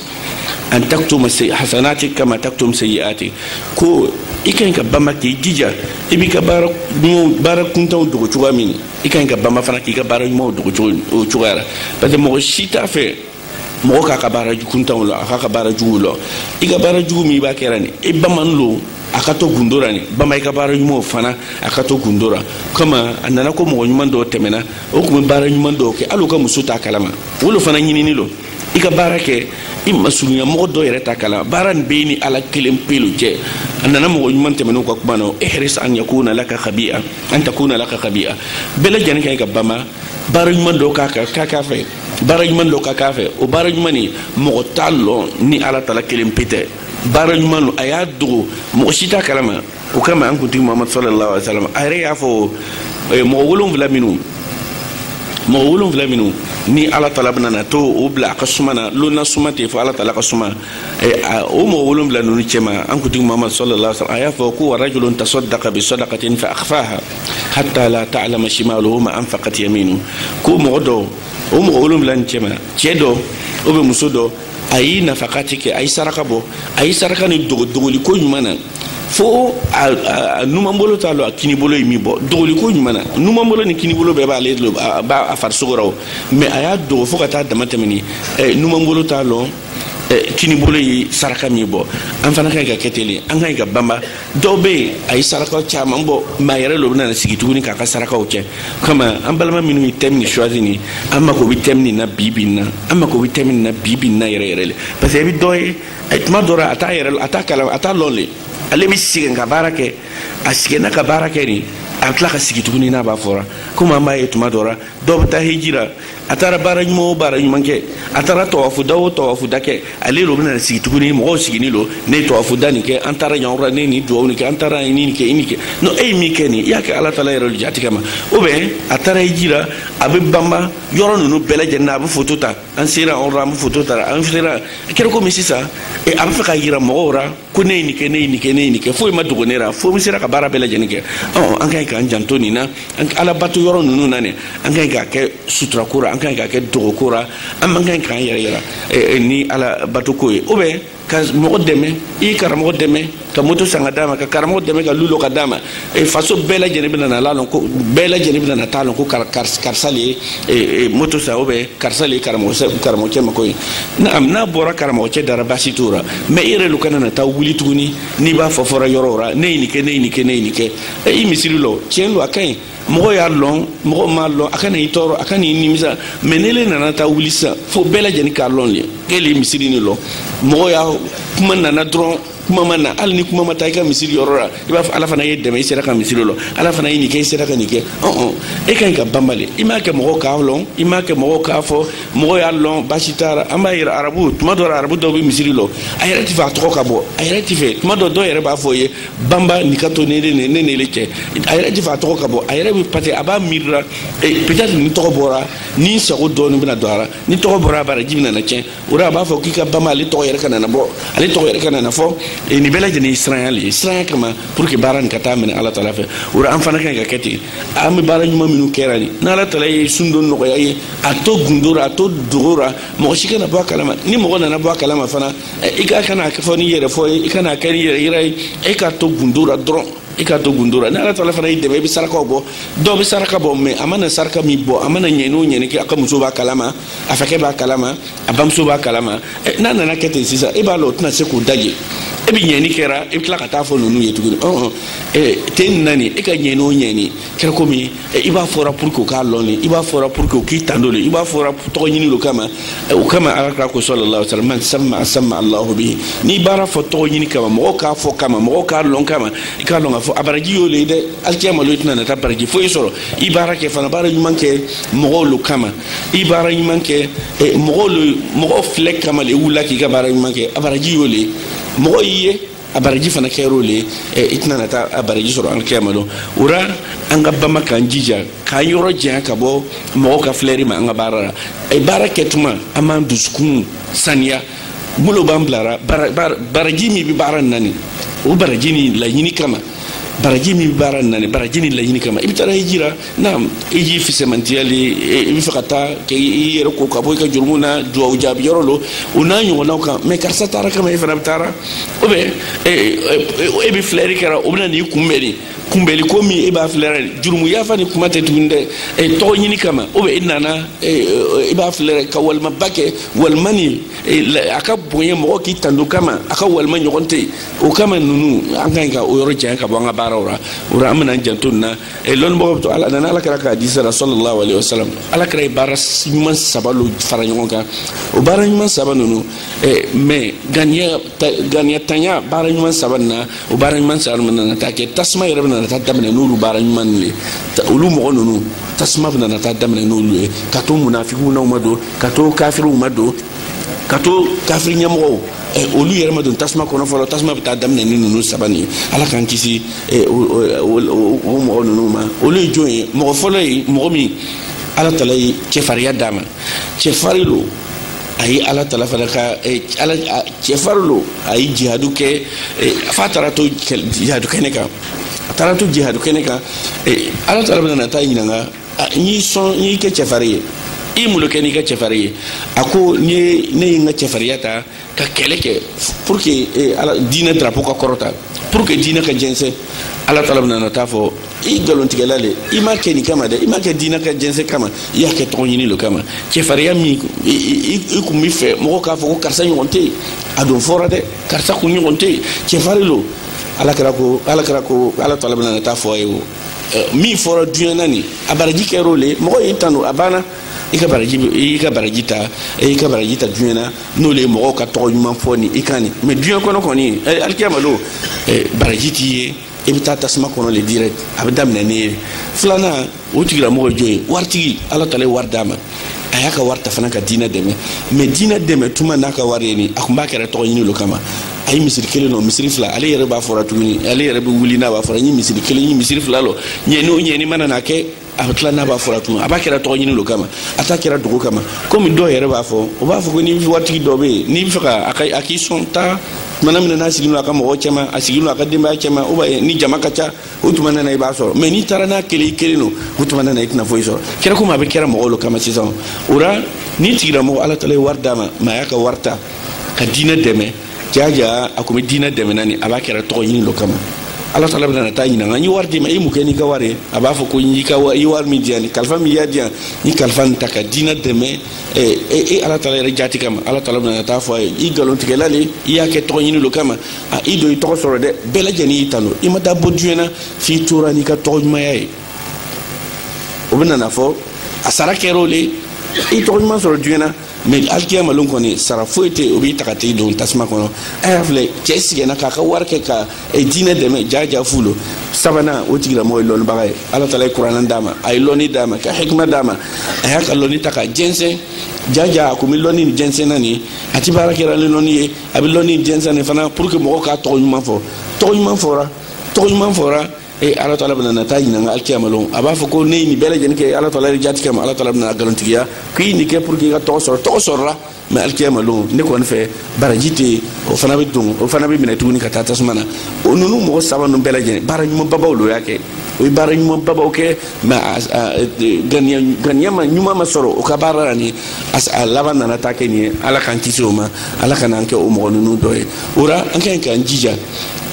an taktum hasanatik kama taktum sayyi'atik ko i kan ka bama k'i jija i b'i ka baara ɲumanw baara kuntanw dogo cogoya min i kan ka bama fana k'i ka baara ɲumanw dogo o cogoya la parce que mɔgɔ si t'a fɛ mɔgɔ k'a ka baara kuntanw wala k'a ka baara juguw lɔn i ka baara jugu min i b'a kɛra nin i bamanin lo a ka to gundo ra nin bama i ka baara ɲumanw fana a ka to gundo ra kama a nana ko mɔgɔ ɲuman dɔw tɛmɛna o tun bɛ baara ɲuman dɔw kɛ hali u ka muso t'a kalama o lo fana ɲininin lo i ka baara kɛ i masurunya mɔgɔ dɔ yɛrɛ t'a kalama baara nin b'e ni ala kelen pe lo cɛ a nana mɔgɔ ɲuman tɛmɛnenw ka kuma na ihris an yakuna laka khabi'a an takuna laka khabi'a bɛɛ lajɛlen kan ka bama baara ɲuman dɔ ka kan ka k'a fɛ baara ɲuman dɔ ka k'a fɛ o baara ɲuman nin mɔgɔ t'a lɔn ni ala tala kelen pe tɛ baara ɲuman don a y'a dogo mɔgɔ si t'a kalama o kama an kuntigi mamadu sallallahu alaihi wasallam a yɛrɛ y'a fɔ eh, mɔgɔ wolonwula minnu mɔgɔ wolonwula minnu ni ala tala bɛna na t'o bila a ka suma na lon na suma tɛ fo ala tala ka suma eh, o mɔgɔ wolonwula ninnu cɛma an kuntigi mamadu sallallahu alaihi wasallam a y'a fɔ ko warajulun tasaddaka bi sadakatin fa akhfaha hatta la ta'lama shimaluhu ma anfaqat yaminu ko mɔgɔ dɔ o mɔgɔ wolonwula nin cɛma cɛ dɔ ou bien muso dɔ a ye nafakati kɛ a ye saraka bɔ a ye saraka nin dogo dogoliko ɲuman na fo a numanbolo t'a lɔn a kinibolo ye min bɔ dogoliko ɲuman na numanbolo ni kinibolo bɛɛ b'ale lo a b'a a farisogo rɔ mais a y'a dogo fo ka taa damatɛmɛni eh, numanbolo t'a lɔn eh, kinibolo ye saraka min bɔ an fana kan ka kɛ ten an kan ka banba dɔw bɛ yen a ye sarakaw caman bɔ mais a yɛrɛ lo bɛna sigi tuguni k'a ka sarakaw kɛ kama an balima minnu ye thème nin choisi ni an mako bɛ thème nin na bi bi na an mako bɛ thème nin na bi bi na yɛrɛ yɛrɛ le parce que i bɛ dɔ ye a ye tuma dɔ ra a t'a yɛrɛ a t'a kala a t'a lɔn le ale bɛ sɛgɛn ka baara kɛ a sɛgɛnna ka baara kɛ de a tila ka sigi tuguni n'a b'a fɔra komi an b'a ye tuma dɔ la dɔw bɛ taa heji la a taara baara ɲuman o baara ɲuman kɛ a taara tawafu da o tawafu da kɛ ale lo bɛna sigi tuguni mɔgɔw siginin lo ne ye tawafu da nin kɛ an taara yan yɔrɔ ne ye nin duwawu nin kɛ an taara nin nin kɛ i nin kɛ non e ye min kɛ nin i y'a kɛ ala taala yɛrɛ jaati kama ou bien a taara heji la a bɛ banba yɔrɔ ninnu bɛɛ lajɛlen na a bɛ foto ta an sera an ra an bɛ foto tara an sera a kɛra komi sisan e, a bɛ fɛ k'a yira mɔgɔw ra ko ne ye nin kɛ ne ye nin kɛ ne ye nin kɛ foyi ma dogo ne ra fo n sera ka baara bɛɛ lajɛlen kɛ ɔ an ka ɲi k'an janto nin na ala bato yɔrɔ ninnu na ne an ka ɲi k'a kɛ suturako ra an ka ɲi k'a kɛ dogoko ra an man ka ɲi k'an yɛrɛ yira e, e, ni ala bato ko ye ou bien ka mɔgɔ dɛmɛ i karamɔgɔ dɛmɛ ka moto san ka d'a ma ka karamɔgɔ dɛmɛ ka lu lɔ ka d'a ma e faso bɛɛ lajɛlen bɛna n'a lɔn ko bɛɛ lajɛlen bɛna na t'a lɔn ko karisa le ye e, e, moto san ou bien karisa le ye karamɔgɔcɛ mako ɲɛ naam n'a bɔra karamɔgɔcɛ da ra baasi t'o ra mais i yɛrɛ lo kana na taa wuli tuguni n'i b'a fɔfɔra yɔrɔ ra ne ye nin kɛ ne ye nin kɛ ne ye nin kɛ e, i misiri lɔ tiɲɛ lo a ka ɲi mɔgɔ y'a lɔn mɔgɔ m'a lɔn a kana i tɔɔrɔ a kana i nimisa mais n'ele nana taa wuli sisan fo bɛɛ lajɛlen k'a lɔn le k'ele ye misiri nin lɔ mɔgɔ y'a kuma nana dɔrɔn kuma ma na hali ni kuma ma taa i ka misiri yɔrɔ la i b'a fɔ ala fana y'i dɛmɛ i sera ka misiri lɔ ala fana ye nin kɛ i sera ka nin kɛ ɔn e ka ɲi ka banba le i m'a kɛ mɔgɔw k'a lɔn i m'a kɛ mɔgɔw k'a fɔ mɔgɔw y'a lɔn baasi t'a la an b'a yera arabu tuma dɔ la arabu dɔw bɛ misiri lɔ a yɛrɛ tɛ fɛ a tɔgɔ ka bɔ a yɛrɛ tɛ fɛ tuma dɔ dɔw yɛrɛ b'a fɔ ye banba nin ka to ne n'ele cɛ a yɛrɛ ti fɛ a tɔgɔ ka bɔ a yɛrɛ bi parce que a b'a miirira peut-être ni tɔgɔ bɔra ni sago dɔɔni bɛna don a la ni tɔgɔ bɔra a baraji bɛna na tiɲɛ o de a b'a fɔ k'i ka banba ale tɔgɔ yɛrɛ kana na bɔ ale tɔgɔ yɛrɛ kana na fɔ nin bɛɛ lajɛlen ye siranya le ye siranya kama pour que baara nin ka taa minɛ ala tala fɛ o de an fana ka ɲi ka kɛ ten an bɛ baara ɲuman minnu kɛra nin ni ala tala ye sun don nɔgɔya i ye a to gundo ra a to dogo ra mɔgɔ si kana bɔ a kalama ni mɔgɔ nana bɔ a kalama fana i ka kana fɔ n'i yɛrɛ fɔ i kana kɛ n'i yɛrɛ yira ye e ka to gundo la dɔrɔn i ka to gundo la ni ala taala fana y'i dɛmɛ i bɛ sarakaw bɔ dɔw bɛ saraka bɔ mais a mana saraka min bɔ a mana ɲɛni o ɲɛni kɛ a ka muso b'a kalama a fakɛ b'a kalama a bamuso b'a kalama n'a nana kɛ ten sisan e b'a lɔ o tɛna se k'o daje e bɛ ɲɛni kɛra i bɛ tila ka taa fɔ ninnu ye tuguni ɔn ɔn ten nin na nin e ka ɲɛni o ɲɛni kɛra komi eh, i b'a fɔra pour que u k'a lɔn de i b'a fɔra pour que u k'i tando de i b'a fɔra tɔgɔ ɲini lo kama eh, o kama ala kira ko sallallahu alaihi wasallam man samma samma allahu bihi n'i baara fɔ tɔgɔ ɲini kama mɔgɔw k'a fɔ kama mɔgɔw k'a lɔn kama i k'a lɔn k'a fɔ a baraji y'o le ye dɛ alikiyama lon i tɛna na taa baraji foyi sɔrɔ i baara kɛ fana baara ɲuman kɛ mɔgɔw lo kama i baara ɲuman kɛ eh, mɔgɔw lo mɔgɔw filɛ kama le i wulila k'i ka baara ɲuman kɛ a baraji y'o le ye mɔgɔ y'i ye a baraji fana kɛra o le ye eh, i tɛna na taa a baraji sɔrɔ alikiyama don o la an ka bama k'an jija k'an yɔrɔ janya ka bɔ mɔgɔw ka filɛri ma an ka baara la eh, baara kɛtuma an b'an dusukun saniya mun lo b'an bilara baraji min bɛ baara nin na nin o baraji nin laɲini kama baraji min bɛ baara nin na nin baraji nin laɲini kama i bɛ taa hiji la naam hiji fisɛmantiya le i bɛ fɛ ka taa k'i yɛrɛ ko ka bɔ i ka jurumu na duwawu jaabi yɔrɔ lo o n'a ɲɔgɔnnaw kan mais karisa taara kama e fana bɛ taara ou bien e bɛ filɛri kɛra o bɛna n'i kunbɛn de kunbɛli ko min e b'a filɛra de jurumu yafa ni kuma tɛ tuguni dɛ tɔgɔ ɲini kama ou bien e nana i b'a filɛra ka walimaba kɛ walima ni a ka bonya mɔgɔ k'i tando kama a ka walima ɲɔgɔn tɛ yen o kama ninnu an ka ɲi ka o yɔrɔ janya ka bɔ an ka baaraw la o la an bɛna an janto nin na e lɔnnibagaw to ala nana ala kira ka hadisa ra sallallahu alaihi wasallam ala kira ye baara ɲuman saba lo fara ɲɔgɔn kan o baara ɲuman saba ninnu mais ganiya ganiya tanya baara ɲuman saba nin na o baara ɲuman saba ninnu nana taa kɛ tasuma yɛrɛ bɛ nana taa daminɛ n'olu baara ɲuman ninnu ye olu mɔgɔ ninnu tasuma bɛ nana taa daminɛ n'olu ye ka to munafigiw n'aw ma don ka to kafiriw ma don ka to kafiri ɲɛmɔgɔw ɛ olu yɛrɛ ma don tasuma kɔnɔ fɔlɔ tasuma bɛ taa daminɛ ni ninnu saba nin ye ala k'an kisi ɛ o mɔgɔ ninnu ma olu ye jɔn ye mɔgɔ fɔlɔ ye mɔgɔ min ala taala ye cɛfarinya d'a ma cɛfarin lo a ye ala taala fana ka ala cɛfarin lo a ye jihadu kɛ f'a taara to jihadu kɛnɛ kan a taara to jihadu kɛnɛ kan ala taala bɛna na taa ɲininka n y'i sɔn n y'i kɛ cɛfarin ye i mun kɛ n'i ka cɛfarin ye a ko n ye ne ye n ka cɛfarinya ta ka kɛlɛ kɛ pour que eh, ala diinɛ drapeau ka kɔrɔta pour que diinɛ ka jɛnsɛn ala taala bɛna na taa fɔ i nkalontigɛla le i m'a kɛ nin kama dɛ i m'a kɛ diinɛ ka jɛnsɛn kama i y'a kɛ tɔgɔ ɲini le kama cɛfarinya min i kun b'a fɛ mɔgɔw k'a fɔ ko karisa ɲɔgɔn tɛ yen a don fɔra dɛ karisa kun ɲɔgɔn tɛ yen cɛfarin lo ala kira ko ala kira ko ala taala bɛna na taa fɔ a ye o min fɔra duɲɛ na nin a baraji kɛra o le mɔgɔ y'i tanu a banna i ka baraji i ka baraji ta i ka baraji ta duɲɛ na n'o le ye mɔgɔw ka tɔgɔ ɲuman fɔ ni i kan nin mais duɲɛ kɔnɔ kɔni alikiyama lon baraji t'i ye i bɛ taa tasuma kɔnɔ le direct a bɛ daminɛ n'e ye filanan o tigilamɔgɔ ye jɔn ye waritigi ala tala ye wari d'a ma a y'a ka wari ta fana ka diinɛ dɛmɛ mais diinɛ dɛmɛ tuma n'a ka wari ye nin a kun b'a kɛra tɔgɔ ɲini lo kama a ye misiri kelen lɔ misiri fila ale yɛrɛ b'a fɔra tuguni ale yɛrɛ bɛ wuli n'a b'a fɔra n ye misiri kelen n ye misiri fila lɔ ɲɛ n'o ɲɛ ni mana n'a kɛ a bɛ tila n'a b'a fɔra tuguni a b'a kɛra tɔgɔ ɲini lo kama a t'a kɛra dogo kama komi dɔw yɛrɛ b'a fɔ o b'a fɔ ko ni waritigi dɔ bɛ yen n'i bɛ fɛ ka a ka a k'i sɔn taa tumana min na n'a sigilen don a ka mɔgɔw cɛma a sigilen don a ka denbaya cɛma ou bien ni jama ka ca o tuma nana i b'a sɔrɔ mais n'i taara n'a kelen i kelen don o tuma nana i tɛna foyi sɔrɔ kɛra komi a b'a kɛra mɔgɔw lo kama sisan o la nin tigilamɔgɔ ala tala ye wari d'a ma mais a y'a ka wari ta ka diinɛ dɛmɛ jaja a tun bɛ diinɛ dɛmɛna ni a b'a kɛra tɔgɔ ɲini lo kama ala tala bɛna na t'a ɲininka n ye wari d'i ma i mun kɛ n'i ka wari ye a b'a fɔ ko n y'i ka wari i wari min di yan ni kalifa min y'a di yan n ye kalifa nin ta ka diinɛ dɛmɛ e ala tala yɛrɛ jati kama ala tala bɛna na t'a fɔ a ye i nkalontigɛla le i y'a kɛ tɔgɔ ɲini lo kama a i don i tɔgɔ sɔrɔ dɛ bɛɛ lajɛlen y'i tanu i ma taa bɔ diɲɛ na f'i tora n'i ka tɔgɔ ɲumanya ye o bɛna n'a fɔ a sara kɛra o le i tɔgɔ ɲuman sɔrɔ diɲɛ na mais alikiyama lon kɔni sara foyi tɛ o b'i ta ka t'i don tasuma kɔnɔ a y'a filɛ cɛ sigɛnna k'a ka wari kɛ ka diinɛ dɛmɛ jaja fu lo sabanan o tigilamɔgɔ ye lɔnnibaga ye ala taala ye kuranɛ d'a ma a ye lɔnni d'a ma ka hikima d'a ma a y'a ka lɔnni ta ka jɛnsɛn jaja a kun bɛ lɔnni nin jɛnsɛnna nin a ti baara kɛra ni lɔnni ye a bɛ lɔnni jɛnsɛn nin fana pour que mɔgɔw k'a tɔgɔ ɲuman fɔ tɔgɔ ɲuman fɔra tɔgɔ ɲuman fɔra e ala taala bɛna na t'a ɲininka alikiyama lon a b'a fɔ ko ne ye nin bɛɛ lajɛlen kɛ ala taala yɛrɛ jati kama ala taala bɛn'a nkalontigiya k'i nin kɛ pour que i ka tɔgɔ sɔrɔ tɔgɔ sɔrɔla mais alikiyama lon ne kɔni fɛ baraji tɛ yen o fana bɛ don o fana bɛ minɛ tuguni ka taa tasuma na o ninnu mɔgɔ saba ninnu bɛɛ lajɛlen baara ɲumanbabaw lo y'a kɛ o ye baara ɲumanbabaw kɛ mais ganiya ma ɲuman ma sɔrɔ o ka baara la nin a laban nana taa kɛ nin ye ala k'an kisi o ma ala kan'an kɛ o mɔgɔ ninnu dɔ ye o la an ka ɲi k'an jija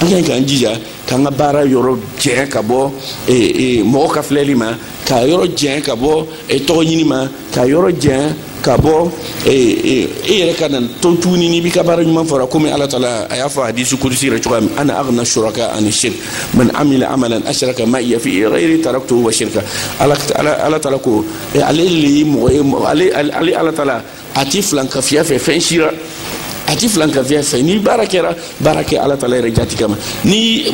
an ka ɲi k'an jija k'an ka baara yɔrɔ jɛn ka bɔ e, e, mɔgɔ ka filɛli ma k'a yɔrɔ jɛn ka bɔ e, tɔgɔ ɲini ma k'a yɔrɔ jɛn ka bɔ e yɛrɛ kana to tuguni n'i b'i ka baara ɲuman fɔra komi ala taala a y'a fɔ hadisi kudusi yɛrɛ cogoya min ana aghna shuraka ani shirk man amila amalan ashraka ma'iya fi ghayri taraktuhu wa shirka ala taala ko ale le ye mɔgɔ ye ale ale ala tala a ti filankafiya fɛ fɛn si la a ti filankafiya fɛ ni baara kɛra baara kɛ ala tala yɛrɛ jati kama ni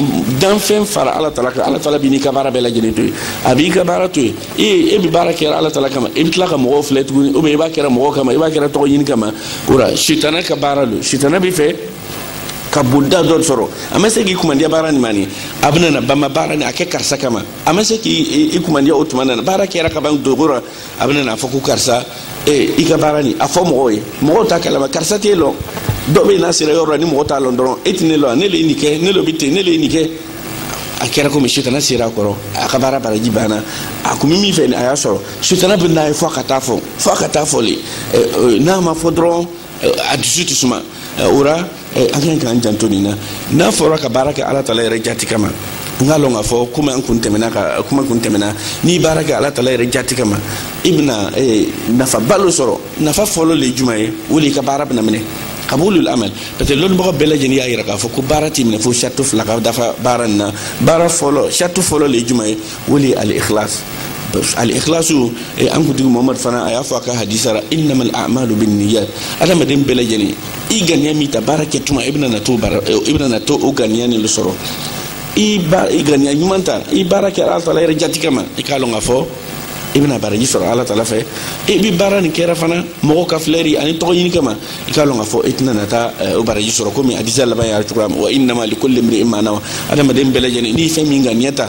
danfɛn fara ala tala kan ala tala b'i n'i ka baara bɛɛ lajɛlen to yen a b'i ka baara to yen e e bi baara kɛra ala tala kama e bi tila ka mɔgɔw filɛ tuguni ou bien i b'a kɛra mɔgɔ kama i b'a kɛra tɔgɔ ɲini kama o la sitana ka baara lo sitana bi fɛ ka bonda dɔ sɔrɔ a ma se k'i kumandiya baara nin ma ni a bɛna na bama baara ni a kɛ karisa kama a ma se k'i i kumandiya o tuma na n'a baara kɛra ka ban dogo la a bɛna n'a fɔ ko karisa ee i ka baara nin a fɔ mɔgɔw ye mɔgɔw t'a kalama karisa t'e lɔn dɔ bɛ n'a sera yɔrɔ la ni mɔgɔ t'a lɔn dɔrɔn e tɛ ne lɔn ne le ye nin kɛ ne le bɛ ten ne le ye nin kɛ a kɛra komi sutana sera a kɔrɔ a ka baara baraji banna a kun bɛ min fɛ a y'a sɔrɔ sutana bɛ n'a ye fo a ka taa fɔ fo a ka taa fɔ le n'a ma fɔ dɔrɔn a dusu tɛ suma o la Eh, an kan k'an janto nin na n'a fɔra ka baara kɛ ala tala yɛrɛ jati kama n k'a lɔn k'a fɔ komi an kun tɛmɛna ka kuma kun tɛmɛna n'i baara kɛ ala tala yɛrɛ jati kama i bɛna eh, nafaba lo sɔrɔ nafa fɔlɔ le juma ye o le i ka baara bɛna minɛ kabulul amal parce que lɔnnibagaw bɛɛ lajɛlen y'a yira k'a fɔ ko baara tɛ minɛ fo sarati fila ka dafa baara nin na baara fɔlɔ sarati fɔlɔ le juma ye o le ye al ikhlas al-ikhlasu eh, an kuntigi muhammad fana a y'a fɔ a ka hadisa la innamal a'malu bin niyat adamaden bɛɛ lajɛlen i ganiya min ta baara kɛ tuma i bɛna na to baara eh, i bɛna na to o ganiya nin de sɔrɔ i ba i ganiya ɲuman ta i baara kɛra ala taala yɛrɛ jati kama i k'a lɔn k'a fɔ i bɛna baraji sɔrɔ ala taala fɛ i bi baara nin kɛra fana mɔgɔw ka filɛri ani tɔgɔ ɲini kama i k'a lɔn k'a fɔ i tɛna na taa eh, o baraji sɔrɔ komi hadisa laban y'a cogoya min wa innama likulli imri'in ma nawa adamaden bɛɛ lajɛlen n'i fɛn min ŋaniya ta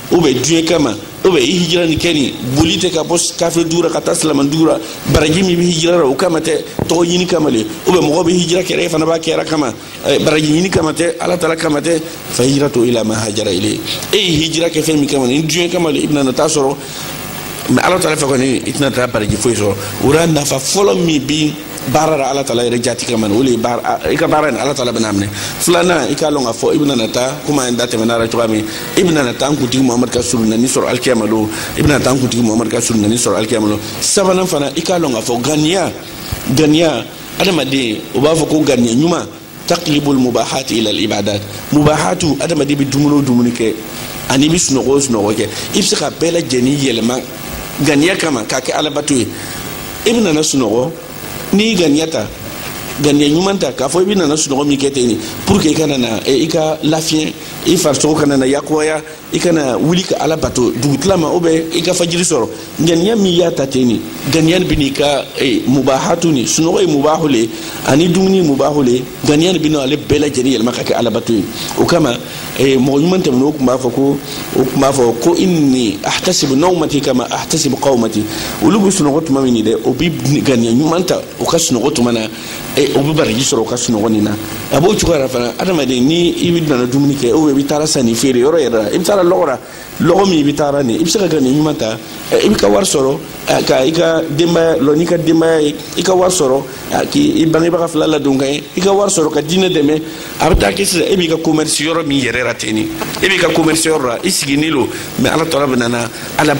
ou bien diɲɛ kama ou bien i hijira nin kɛnin boli tɛ ka bɔ kafiri dugu la ka taa silamɛ dugu la baraji min bɛ hijira la o kama tɛ tɔgɔ ɲini kama le ou bien mɔgɔ bɛ hijira kɛra e fana b'a kɛra kama eh, baraji ɲini kama tɛ ala taala kama tɛ fa hijratu ila ma hajara ilayhi e ye hijira kɛ fɛn min kama ni diɲɛ kama le i bɛna na taa sɔrɔ mais ala taala fɛ kɔni i tɛna taa baraji foyi sɔrɔ o la nafa fɔlɔ min bi baara la ala tala yɛrɛ jati kama o de ye i ka baara in ala tala bɛna a minɛ filanan i k'a lɔn k'a fɔ i bɛna na taa komi an da tɛmɛna a la cogoya min i bɛna na taa an kuntigi muhamadu ka solonani sɔrɔ alikiyama lon i bɛna na taa an kuntigi muhamadu ka solonani sɔrɔ alikiyama lon sabanan fana i k'a lɔn k'a fɔ ganiya ganiya adamaden o b'a fɔ ko ganiya ɲuman taqlibul mubahat ila al ibadat mubahatu adamaden bi dumuni o dumuni kɛ ani i bi sunɔgɔ o sunɔgɔ kɛ i bɛ se ka bɛɛ lajɛlen yɛlɛma ganiya kama k'a kɛ alabato ye i bɛna na sunɔgɔ n'i ganiya ta ganiya ɲuman ta k'a fɔ i bɛna na sunɔgɔ min kɛ ten pour que i ka na na i ka lafiɲɛ i farisogo ka na na yakubaya i ka na wuli ka ala bato dugutilama ou bien i ka fajiri sɔrɔ ganiya min i y'a ta ten nin ganiya nin bɛn'i ka e, mubahatu nin sunɔgɔ ye mubahu le ani dumuni mubahu le ganiya nin bɛna ale bɛɛ lajɛlen yɛlɛma ka kɛ alabato ye o kama e, mɔgɔ ɲuman tɛmɛnenw tun b'a fɔ ko o tun b'a fɔ ko inni ahtasibu nawmati kama ahtasibu qawmati olu bɛ sunɔgɔ tuma min dɛ o bɛ ganiya ɲuman ta u ka sunɔgɔ tuma na e o bɛ baraji sɔrɔ o ka sunɔgɔ nin na a b'o cogo yɛrɛ fana adamaden ni i bɛ nana dumuni kɛ ou bien i bɛ taara sanni feere yɔrɔ yɛrɛ la i bɛ taara lɔgɔ la lɔgɔ min i bɛ taara nin i bɛ se ka ganiya ɲuman ta i bɛ ka wari sɔrɔ ka i ka denbaya lɔ n'i ka denbaya ye i ka wari sɔrɔ k'i bangebaga fila ladon ka ye i ka wari sɔrɔ ka diinɛ dɛmɛ a bɛ taa kɛ sisan e b'i ka commerce yɔrɔ min yɛrɛ la ten nin e b'i ka commerce yɔrɔ la i siginin lo mais ala tala bɛ nana ala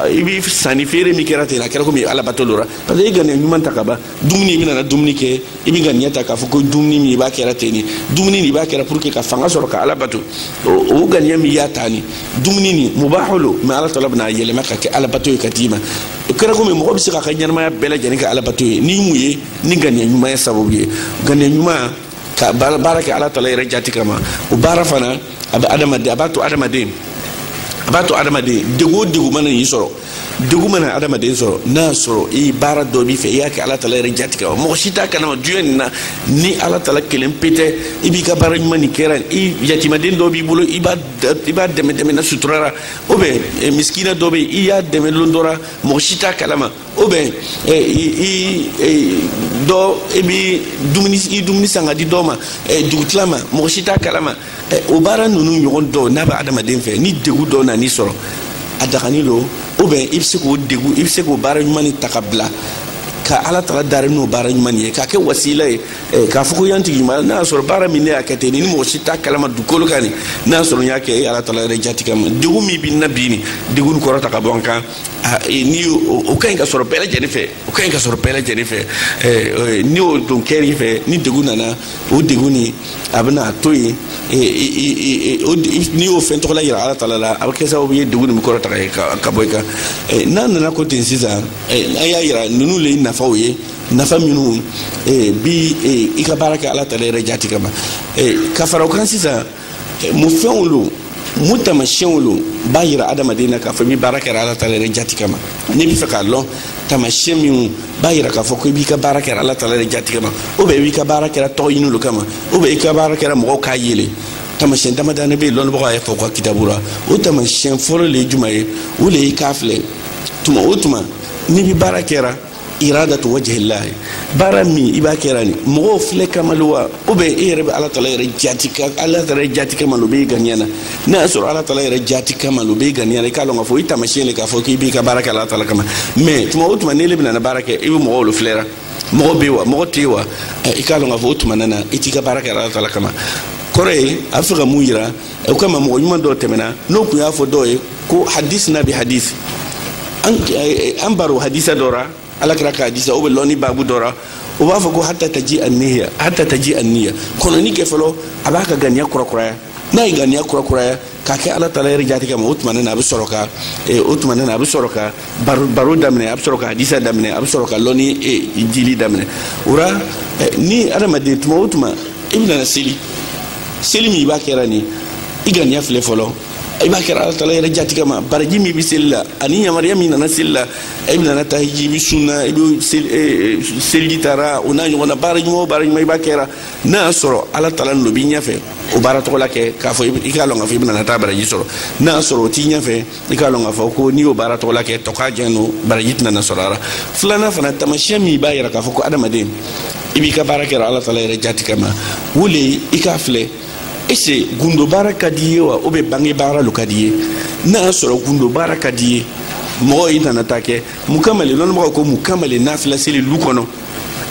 i bɛ sanni feere min kɛra ten a kɛra komi ala bato lo ra parce que i ganiya ɲuman ta ka ban dumuni i bɛna na dumuni kɛ i bɛ ganiya ta k'a fɔ ko dumuni min i b'a kɛra ten nin dumuni nin i b'a kɛra pour que ka fanga sɔrɔ ka ala bato o ganiya min y'a ta nin dumuni nin mubaho lo mɛ ala tala bɛna a yɛlɛma k'a kɛ ala bato ye k'a d'i ma o kɛra komi mɔgɔ bɛ se k'a ka ɲɛnamaya bɛɛ lajɛlen kɛ ala bato ye ni mun ye ni ganiya ɲuman ye sababu ye ganiya ɲuman ka baara kɛ ala tala yɛrɛ jati kama o baara fana a bɛ adamaden a b'a to adamaden a b'a to adamaden degun o degun mana n'i sɔrɔ degun mana adamaden sɔrɔ n'a y'a sɔrɔ i baara dɔ b'i fɛ i y'a kɛ ala tala yɛrɛ jati kama mɔgɔ si t'a kalama duɲɛ nin na ni ala tala kelen pe tɛ i b'i ka baara ɲuman nin kɛra i yatimaden dɔ b'i bolo i b'a dɛmɛ dɛmɛna sutura ra ou bien eh, misikina dɔ bɛ yen i y'a dɛmɛ lon dɔ ra mɔgɔ si t'a kalama ou bien eh, i eh, dɔ i bɛ dumuni i dumuni san k'a di dɔ ma dugutilama mɔgɔ si t'a kalama o baara ninnu ɲɔgɔn dɔ n'a bɛ adamaden fɛ ni degun dɔ nan'i sɔrɔ a dagani lo ou bien i bɛ se k'o degu i bɛ se k'o baara ɲuman nin ta k'a bila ka ala tala dari n'o baara ɲuman ye k'a kɛ wasila ye eh, k'a fɔ ko ya n tigi ɲuman n'a y'a sɔrɔ baara min ne y'a kɛ ten ni mɔgɔ si t'a kalama dugukolo kan nin n'a y'a sɔrɔ n y'a kɛ e ala tala yɛrɛ jati kama degun min bɛ n na bi nin degun kɔrɔta ka bɔ n kan ah, eh, ni o ka ɲi ka sɔrɔ bɛɛ lajɛlen fɛ o ka ɲi ka sɔrɔ bɛɛ lajɛlen fɛ ni o dɔ kɛr'i fɛ ni degun nana o degun nin a bɛna to yen n'i y'o fɛn tɔgɔla yira ala tala la a bɛ kɛ sababu ye degun nin bɛ kɔrɔta ka bɔ i kan n'a nana k'o ten sisan an y'a yira ninnu le ye nafaw ye nafa minnu bɛ i ka baara kɛ ala tala yɛrɛ jati kama ka fara o kan sisan mun fɛnw lo mun tamasiyɛnw lo b'a yira adamaden na k'a fɔ i bɛ baara kɛra ala tala yɛrɛ jati kama n'i bɛ fɛ k'a lɔn tamasiyɛn minnu b'a yira k'a fɔ ko i b'i ka baara kɛra ala tala yɛrɛ jati kama ou bien i b'i ka baara kɛra tɔgɔ ɲini lo kama ou bien i ka baara kɛra mɔgɔw k'a ye le tamasiyɛn damadani bɛ yen lɔnbagaw y'a fɔ u ka kitabu la o tamasiyɛn fɔlɔ le ye juma ye o le ye k'a filɛ tuma o tuma n'i bɛ baara kɛra iradatu wajihilahi baara min i b'a kɛra nin mɔgɔw filɛ kama le wa ou bien e yɛrɛ bɛ ala tala yɛrɛ jati ka ala tala yɛrɛ jati kama lo bɛ i ganiya na n'a y'a sɔrɔ ala tala yɛrɛ jati kama lo bɛ i ganiya na i k'a lɔn k'a fɔ i tamasiyɛn le k'a fɔ k'i b'i ka baara kɛ ala tala kama mɛ tuma o tuma n'ele bɛna na baara kɛ i bɛ mɔgɔw lo filɛra mɔgɔ bɛ wa mɔgɔ tɛ yen wa i k'a lɔn k'a fɔ o tuma na na i t'i ka baara kɛ ala tala kama kɔrɔ ye a bɛ fɛ ka mun yira o kama mɔgɔ ɲuman dɔ tɛmɛna n'o kun y'a fɔ dɔ ye ko hadis na bi hadis an eh, eh, baro hadisa dɔ ra ala kira ka hadisa ou bien lɔni babu dɔ ra o b'a fɔ ko hata taji aniya hata taji aniya kɔnɔni kɛ fɔlɔ a b'a ka ganiya kurakuraya n'a ye ganiya kurakuraya k'a kɛ ala taala yɛrɛ jati kama o tuma ne na a bɛ sɔrɔ ka eh, o tuma ne na a bɛ sɔrɔ ka baro baro daminɛ a bɛ sɔrɔ ka hadisa daminɛ a bɛ sɔrɔ ka lɔni e, jili daminɛ o ra e, ni adamaden tuma o tuma i bɛ na seli seli min i b'a kɛra nin i ganiya filɛ fɔlɔ i b'a kɛra ala taala yɛrɛ jati kama baraji min bɛ seli la ani yamaruya min nana seli la i bɛ nana taa hiji i bɛ sunna i bɛ seliji taara o n'a ɲɔgɔnna baara ɲuman o baara ɲuman i b'a kɛra n'a y'a sɔrɔ ala taala n'o b'i ɲɛfɛ o baara tɔgɔla kɛ k'a fɔ i k'a lɔn k'a fɔ i bɛ nana taa baraji sɔrɔ n'a y'a sɔrɔ o t'i ɲɛfɛ i k'a lɔn k'a fɔ ko n'i y'o baara tɔgɔla kɛ tɔkajɛn no baraji tɛ nana sɔrɔ a ra filanan fana tamasiyɛn min b'a yira k'a fɔ ko adamaden i b'i ka baara kɛra ala taala yɛrɛ jati kama o le ye i k'a filɛ est-ce gundo baara ka di ye wa ou bien bange baara lo ka di ye n'a y'a sɔrɔ gundo baara ka di ye mɔgɔ i nana taa kɛ mun kama le lɔnnibagaw ko mun kama le nafila seli lu kɔnɔ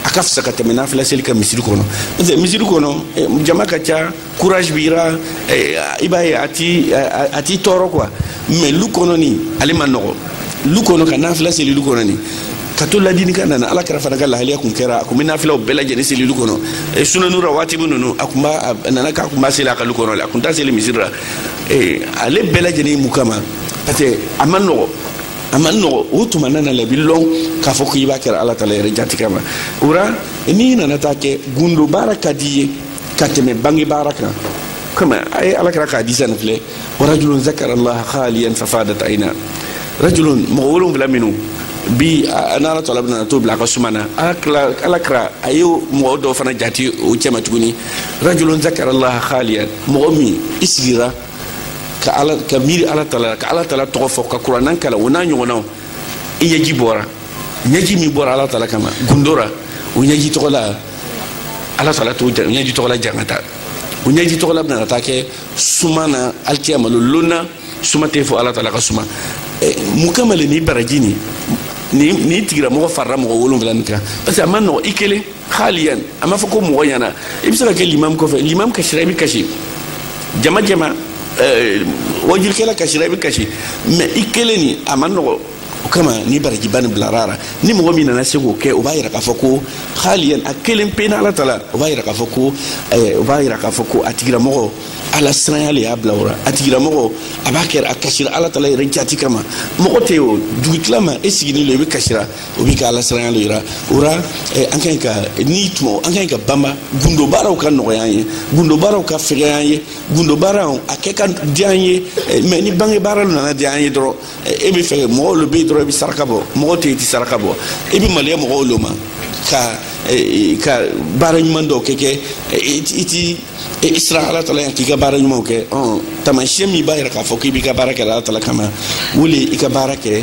a ka fisa ka tɛmɛ nafila seli kan misiri kɔnɔ parce que misiri kɔnɔ eh, jama ka ca courage b'i ra eh, i b'a ye a t'i a t'i tɔɔrɔ quoi mais lu kɔnɔ nin ale ma nɔgɔ lu kɔnɔ ka nafila seli lu kɔnɔ nin ka to ladini ka nana ala kira fana ka lahaliya kun kɛra a kun bɛ nafilaw bɛɛ lajɛlen seli lu kɔnɔ eh, sunanu rawatibi ninnu a kun b'a a nana k'a kun b'a seli a ka lu kɔnɔ le a kun t'a seli misiri la eh, ale bɛɛ lajɛlen mun kama parce que a ma nɔgɔ a ma nɔgɔ o tuma nana la i b'a lɔn k'a fɔ k'i b'a kɛra ala taala yɛrɛ jati kama o ra n'i nana taa kɛ gundo baara ka di ye ka tɛmɛ bange baara kan kama a ye ala kira ka hadisa nin filɛ warajulun zakarallaha khaliyan fafadat aina rajulun mɔgɔ wolonwula minnu bi n'ala tala bɛna t'o bila a ka suma na ala kira a ye mɔgɔ dɔ fana jate o cɛma tuguni rajulun zakarallaha khaliyan mɔgɔ min i sigira ka ala ka miiri ala tala ka ala tala tɔgɔ fɔ ka kuranan kalan o n'a ɲɔgɔnnaw i ɲɛji bɔra ɲɛji min bɔra ala tala kama gundo ra o ɲɛji tɔgɔla ala tala t'o ɲɛji tɔgɔla jangata o ɲɛji tɔgɔla bɛna ka taa kɛ suma na alikiyama lon lon na suma tɛ fo ala tala ka suma mun kama le ni baraji nin ni ni tigira mɔgɔ farala mɔgɔ wolonwula nin kan parce que a ma nɔgɔ i kelen khaliyan a ma fɔ ko mɔgɔ ɲa na i bɛ se ka kɛ limamu kɔfɛ limamu kasira i bɛ kasi jama jama wajurikɛla kasira i bɛ kasi mais i kelen nin a ma nɔgɔ o kama ni barajiba nin bilara a la ni mɔgɔ min nana se k'o kɛ o b'a yira k'a fɔ ko haliyan a kelen pe n'ala tala o b'a yira k'a fɔ ko eh, o b'a yira k'a fɔ ko a tigilamɔgɔ ala siranya le y'a bila o la a tigilamɔgɔ a b'a kɛra a kasira ala tala yɛrɛ jati kama mɔgɔ tɛ o dugutila ma e siginin lo i bɛ kasira o b'i ka ala siranya lo yira o ra eh, an ka ɲi ka n'i tuma an ka ɲi ka banba gundo baaraw ka nɔgɔya an ye gundo baaraw ka fɛgɛya an ye gundo baaraw a kɛ ka diya an ye eh, mais ni bange baara lo nana diya an ye dɔrɔn e bɛ fɛ mɔgɔw lo bɛ yen dɔrɔn i bɛ saraka bɔ mɔgɔw tɛ yen i tɛ saraka bɔ i bɛ maloya mɔgɔw lo ma ka ka baara ɲuman dɔw kɛ kɛ i ti i siran ala tala ɲa k'i ka baara ɲumanw kɛ ɔn taamasiyɛn min b'a yira k'a fɔ k'i b'i ka baara kɛ ala tala kama o le i ka baara kɛ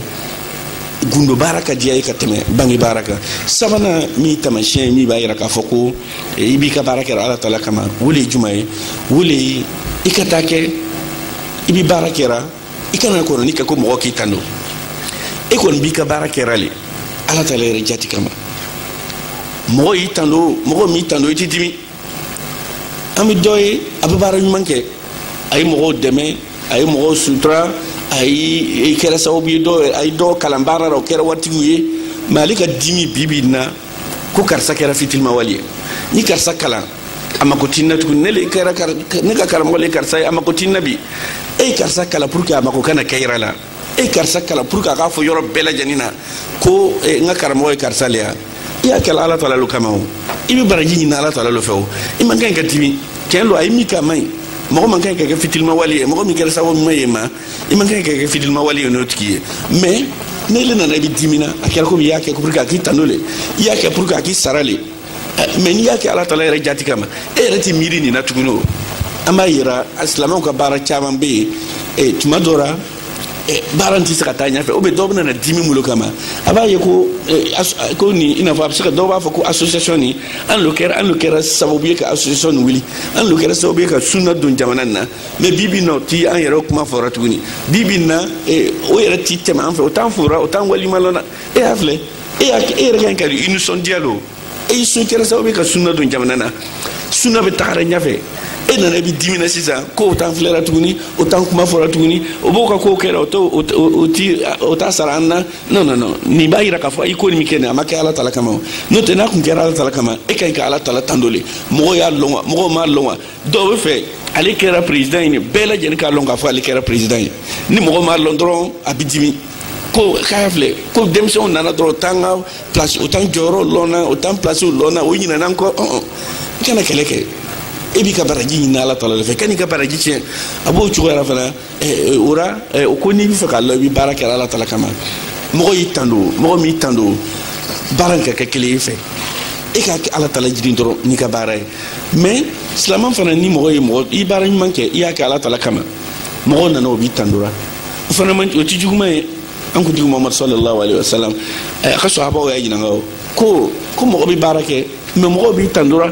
gundo baara ka diya i ye ka tɛmɛ bange baara kan sabanan min taamasiyɛn min b'a yira k'a fɔ ko i b'i ka baara kɛ ala tala kama o le juman ye o le i ka taa kɛ i bɛ baara kɛra i kana kɔnɔni kɛ ko mɔgɔ k'i tando e kɔni b'i ka baara kɛra le ala tala yɛrɛ jati kama mɔgɔ y'i tando mɔgɔ m'i tando i t'i dimi an bɛ dɔ ye a bɛ baara ɲuman kɛ a ye mɔgɔw dɛmɛ a ye mɔgɔw sutura a ye kɛra sababu ye dɔw a ye dɔw kalan baara la o kɛra waritigiw ye mais ale ka dimi bi bi in na ko karisa kɛra fitilimawale ye n ye karisa kalan a mako ti n na tuguni ne le kɛra ne ka karamɔgɔ le karisa ye a mako ti n na bi e ye karisa kalan pour que a mako ka na kɛ i yɛrɛ la e ye karisa kalan pour que a k'a fɔ yɔrɔ bɛɛ lajɛlen na ko eh, n ka karamɔgɔ ye karisa le ye i y'a kɛla ala tala lo kama o i bɛ baraji ɲini ala tala lo fɛ o i man kan ka dimi tiɲɛ lo a ye min kɛ a man ɲi mɔgɔ man kan ka kɛ fitilimawale ye mɔgɔ min kɛra sababu ɲuman ye i ma i man kan ka kɛ fitilimawale ye n'o tigi ye mais n'e le nana i bɛ dimina a kɛra komi i y'a kɛ pour que a k'i tando le i y'a kɛ pour que a k'i sara le mais n'i y'a kɛ ala tala yɛrɛ jati kama e yɛrɛ tɛ miiri nin na tuguni o an b'a yera silamɛw ka baara caman bɛ yen e, tuma dɔ la e, baara tɛ se ka taa ɲɛfɛ o bɛ dɔw bɛna na dimi bolo kama a b'a ye ko e, ko nin i n'a fɔ a bɛ se ka dɔw b'a fɔ ko association nin an lo kɛra an lo kɛra sababu ye ka association nin wuli an lo kɛra sababu ye ka sunna don jamana nin na mais bi bi na o ti an yɛrɛ kuma fɔra tuguni bi bi na o yɛrɛ ti tɛmɛ an fɛ o t'an fora o t'an waliɲuman lɔnna e y'a filɛ e y'a e yɛrɛ kan ka i nisɔndiya lo e i tun kɛra sababu ye ka sunna don jamana na sunna bɛ tagara ɲɛfɛ e nana i bɛ dimina sisan ko o t'an filɛra tuguni o t'an kuma fɔra tuguni o b'o ka kow kɛra o t'o o ti o t'a sara an na non non non nin b'a yira k'a fɔ i ko nin min kɛ nin a ma kɛ ala tala kama o n'o tɛ n'a tun kɛra ala tala kama e ka ɲi ka ala tala tando le mɔgɔw y'a lɔn wa mɔgɔw m'a lɔn wa dɔw bɛ fɛ ale kɛra président ye bɛɛ lajɛlen k'a lɔn k'a fɔ ale kɛra président ye ni mɔgɔ m'a lɔn dɔrɔn a bɛ dimi ko k'a filɛ ko denmisɛnw nana dɔrɔn o t'an ka place o t'an jɔyɔrɔ lɔnna o t'an place lɔnna o ɲinɛna an kɔ ɔn i kana kɛlɛ kɛ e b'i ka baraji ɲini ala tala de fɛ kan'i ka baraji tiɲɛ a b'o cogoya ra fana o ra o ko n'i bɛ fɛ k'a lɔn i bɛ baara kɛ ala tala kama mɔgɔ y'i tando mɔgɔ m'i tando baara in ka kɛ kelen y'i fɛ e k'a kɛ ala tala jigi dɔrɔn n'i ka baara ye mais silaman fana ni mɔgɔ ye mɔgɔ i baara ɲuman kɛ i y'a kɛ ala tala kama mɔgɔw nana o b'i tandora o fana man o ti juguman ye an kuntigi muhamad sallallahu alaihi wasallam eh, a ka sahabaw y'a ɲininka o ko ko mɔgɔ bɛ baara kɛ mais mɔgɔw b'i tandora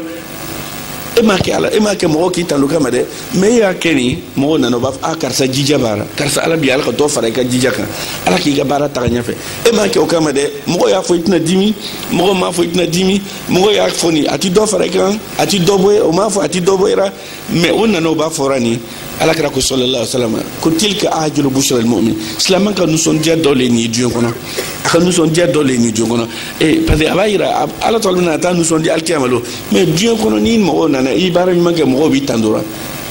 e m'a kɛ ala e m'a kɛ mɔgɔw k'i tando kama dɛ mais e y'a kɛ nin mɔgɔw nana o b'a fɔ a karisa jija b'a la karisa ala bi ala ka dɔ fara i ka jija kan ala k'i ka baara taga ɲɛfɛ e m'a kɛ o kama dɛ mɔgɔw y'a fɔ i tɛna dimi mɔgɔw m'a fɔ i tɛna dimi mɔgɔw y'a fɔ nin a ti dɔ fara i kan a ti dɔ bɔ o m'a fɔ a ti dɔ bɔ i la mais o nana o b'a fɔra nin ala kira ko sallallahu alaihi wasallam ko tilka ajilu bushra almumin silaman ka nisɔndiya dɔ le nin diɲɛ kɔnɔ a ka nisɔndiya dɔ le nin diɲɛ kɔnɔ ee parce que a b'a yira ala tɔgɔ bɛna a taa nisɔndiya alikiyama lon mais diɲɛ kɔnɔ ni mɔgɔw nana i baara ɲuman kɛ mɔgɔw b'i tandora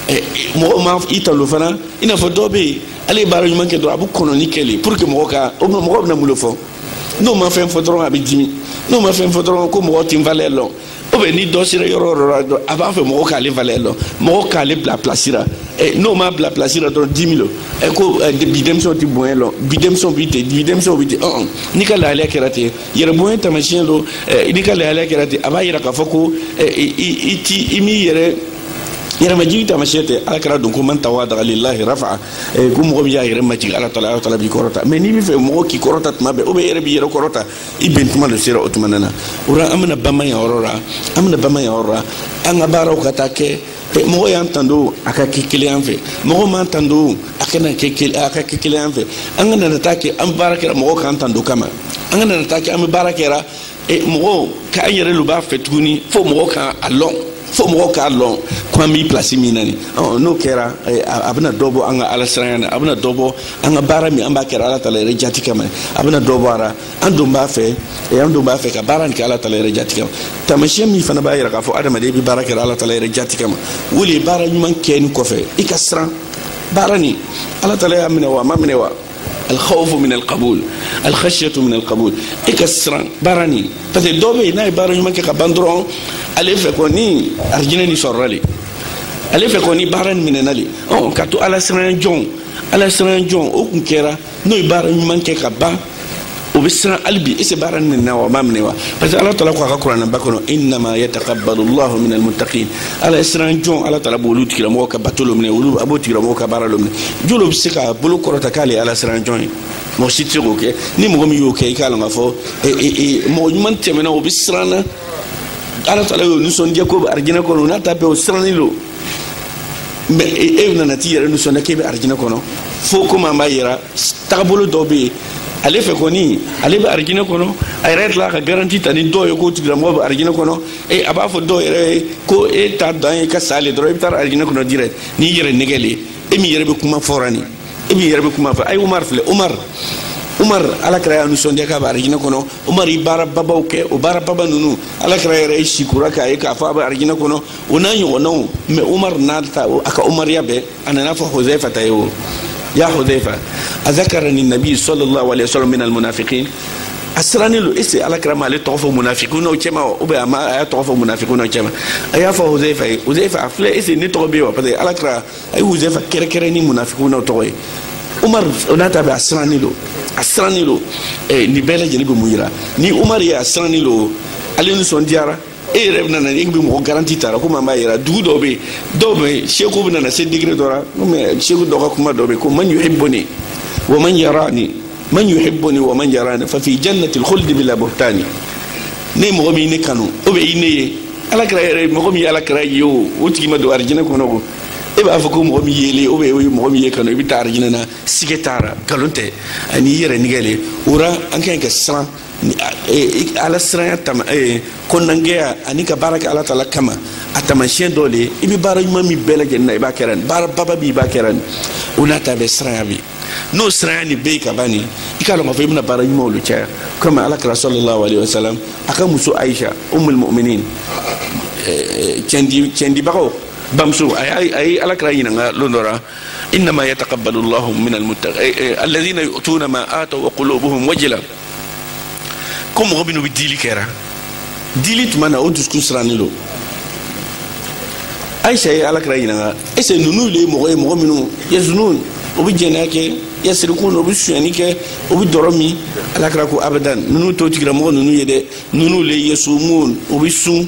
ɛ mɔgɔw ma i tando fana i n'a fɔ dɔw bɛ yen ale ye baara ɲuman kɛ dɔrɔn a bɛ kɔnɔni kɛ le pour que mɔgɔ ka o mɔgɔ bɛna mun de fɔ n'o ma fɛn fɔ dɔrɔn a bɛ dimi n'o ma fɛn fɔ dɔrɔn ko mɔgɔ tɛ n valeur lɔn ou bien ni dɔ sera yɔrɔ o yɔrɔ la dɔrɔn a b'a fɛ mɔgɔ k'ale valeur lɔn mɔgɔ k'ale bila place la ɛ n'o ma bila place la dɔrɔn dimi lo ɛ ko ɛ bi denmisɛnw tɛ bonya lɔn bi denmisɛnw bi ten bi denmisɛnw bi ten ɔn n'i ka lahalaya kɛra ten yɛrɛ bonya taamasiyɛn lo ɛ n'i ka lahalaya kɛra ten a b'a yira k'a fɔ ko ɛ i i ti i m'i yɛrɛ yɛrɛmajigi taamasiyɛn tɛ ala kira don ko man tawadaa lillahi rafa ko mɔgɔ min y'a yɛrɛ majigi ala taala ala taala b'i kɔrɔta mais n'i bɛ fɛ mɔgɔ k'i kɔrɔta tuma bɛɛ ou bien yɛrɛ b'i yɛrɛ kɔrɔta i ben tuma le sera o tuma nana o la an bɛna bamba yan yɔrɔ la an bɛna bamba yan yɔrɔ la an ka baaraw ka taa kɛ eh, mɔgɔ y'an tando a ka kɛ kelen an fɛ mɔgɔ m'an tando a kana kɛ a ka kɛ kelen an fɛ an kana na taa kɛ an bɛ baara kɛra mɔgɔ k'an tando kama an kana na taa kɛ an bɛ baara kɛra eh, mɔgɔ k'an yɛrɛ le b'a fɛ tuguni fo mɔgɔ k'an a lɔn fo mɔgɔw k'a lɔn ko an bi place min na nin n'o kɛra eh, a bɛna dɔ bɔ an ka ala siranya na a bɛna dɔ bɔ an ka baara min an b'a kɛra ala tala yɛrɛ jati kama a bɛna dɔ bɔ a ra an don b'a fɛ eh, an don b'a fɛ ka baara nin kɛ ala tala yɛrɛ jati kama taamasiyɛn min fana b'a yira k'a fɔ adamaden bɛ baara kɛra ala tala yɛrɛ jati kama o le ye baara ɲuman kɛnin kɔfɛ i ka siran baara nin ala tala y'a minɛ wa a m'a minɛ wa alxawfu min alqabul alxasiyatu min alqabul e ka siran baara nin parce que dɔw bɛ yen n'a ye baara ɲuman kɛ ka ban dɔrɔn ale fɛ kɔni arijinɛ ni sɔrɔla le ale fɛ kɔni baara nin minɛna le ɔ ka to ala siran jɔn ala siran jɔn o kun kɛra n'o ye baara ɲuman kɛ ka ban o bɛ siran hali bi ese baara nin minɛna wa a ma minɛ wa parce que ala taala ko a ka kuranɛba kɔnɔ innama yataqabbalu llahu min almuttaqin ala ye siran jɔn ala taala b'olu tigilamɔgɔ ka bato lo minɛ olu a b'o tigilamɔgɔ ka baara lo minɛ jɔn lo bɛ se k'a bolo kɔrɔta k'ale ye ala siran jɔn ye mɔgɔ si tɛ se k'o kɛ ni mɔgɔ min y'o kɛ i k'a lɔn k'a fɔ mɔgɔ ɲuman tɛmɛna o bɛ siran na ala taala y'o nisɔndiya k'o bɛ arijinɛ kɔnɔ o n'a ta bɛɛ o sirannen don mais e, e nana t'i yɛrɛ nisɔndiya k'e bɛ arijinɛ kɔnɔ fo komi an b'a yera tagabolo dɔ bɛ yen ale fɛ kɔni ale bɛ arijinɛ kɔnɔ a yɛrɛ tila ka garanti ta ni dɔw ye k'o tigilamɔgɔ bɛ arijinɛ kɔnɔ e a b'a fɔ dɔw yɛrɛ ye ko e ta dan ye ka sa le dɔrɔn i bɛ taa arijinɛ kɔnɔ direct n'i yɛrɛ nɛgɛn le e min yɛrɛ bɛ kuma fɔra nin e min yɛrɛ bɛ kuma fɔ a ye umar filɛ umar umar ala kira y'a nisɔndiya k'a bɛ arijinɛ kɔnɔ umar ye baara babaw kɛ o baara baba ninnu ala kira yɛrɛ ye sikura k'a ye k'a fɔ a bɛ arijinɛ kɔnɔ o n'a ɲɔgɔnnaw mais umar n'a ta a ka umariya bɛɛ a nana fɔ huzayfata ye o ya huzayfa a zakarani nabi sallallahu alayhi wa sallam minal munafikin a sirannen don ese ala kira ma ale tɔgɔ fɔ munafikun ninnu cɛma wa ou bien a ma a y'a tɔgɔ fɔ munafikun ninnu cɛma a y'a fɔ huzayfa ye huzayfa a filɛ ese ne tɔgɔ bɛ yen wa parce que ala kira a ye huzayfa kɛrɛnkɛrɛn ni munafikun ninnu tɔgɔ ye umar o n'a ta bɛɛ a sirannen don a sirannen don nin bɛɛ lajɛlen bɛ mun yira ni umar ye a sirannen don ale nisɔndiyara e yɛrɛ bɛna na e bɛ mɔgɔ garanti tara komi an b'a yera dugu dɔw bɛ yen dɔw bɛ yen seku bɛna na se degré dɔ la mais seku dɔ ka kuma dɔ bɛ yen ko man yuhibbuni wa man yarani man yuhibbuni wa man yarani fa fi jannatil khuldi bila buhtani ne mɔgɔ min ne kanu o bɛ i ne ye ala kira yɛrɛ mɔgɔ min ye ala kira ye o o tigi ma don arijinɛ kɔnɔ ko e b'a fɔ ko mɔgɔ min yelen o bɛ o ye mɔgɔ min y'e kanu i bɛ taa arijinɛ na sika t'a ra nkalon tɛ ani i yɛrɛ nɛgɛn le o ra an ka ɲi ka siran e, ala siranya tama e, kɔnɔnangɛya ani ka baara kɛ ala taala kama a taamasiyɛn dɔ de ye i bɛ baara ɲuman min bɛɛ lajɛlen na i b'a kɛra nin baara baba bi i b'a kɛra nin o n'a ta bɛɛ siranya bi n'o siranya nin bɛ yen ka ban nin i k'a dɔn k'a fɔ i bɛna baara ɲumanw de caya komi ala kira sallallahu alayhi wa sallam a ka muso ayisa ummul mu'minin e, cɛndi cɛndibagaw bamuso a ye ala kira ɲininka lon dɔ la innama yataqabbalu llahu min almuttaqin alladhina yu'tuna ma ataw wa qulubuhum wajila ko mɔgɔ minnu bɛ dili kɛra dili tuma na o dusukun sirannen don ayisa ye ala kira ɲininka ese ninnu de ye mɔgɔ ye mɔgɔ minnu yaznun o bɛ jɛnɛya kɛ yasriqun o bɛ sonyani kɛ o bɛ dɔrɔ min ala kira ko abadan ninnu t'o tigilamɔgɔ ninnu ye dɛ ninnu de ye yasumun o bɛ sun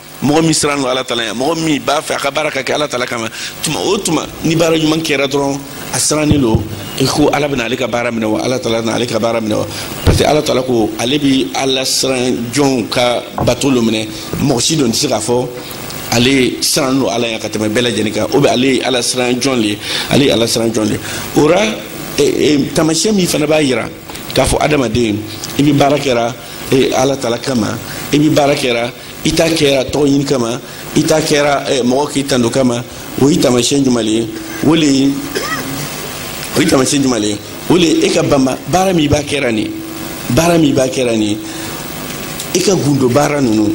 mɔgɔ min siran lo ala tala ya mɔgɔ min b'a fɛ a ka baara ka kɛ ala tala kama tuma o tuma ni baara ɲuman kɛra dɔrɔn a sirannen lo i ko ala bɛna ale ka baara minɛ wa ala tala na ale ka baara minɛ wa parce que ala tala ko ale bi ala siran jɔnw ka bato lo minɛ mɔgɔ si don tɛ se k'a fɔ ale siran lo ala ya ka tɛmɛ bɛɛ lajɛlen kan o bɛ ale ye ala siran jɔn le ye ale ye ala siran jɔn le ye o ra e, e, taamasiyɛn min fana b'a yira k'a fɔ adamaden i bi baara kɛra e, ala tala kama i bi baara kɛra i t'a kɛra tɔgɔ ɲini kama i t'a kɛra eh, mɔgɔ k'i tando kama o ye taamasiyɛn jumɛn le ye o le ye o ye taamasiyɛn jumɛn le ye o le ye e ka banba baara min b'a kɛra nin baara min b'a kɛra nin i ka gundo baara ninnu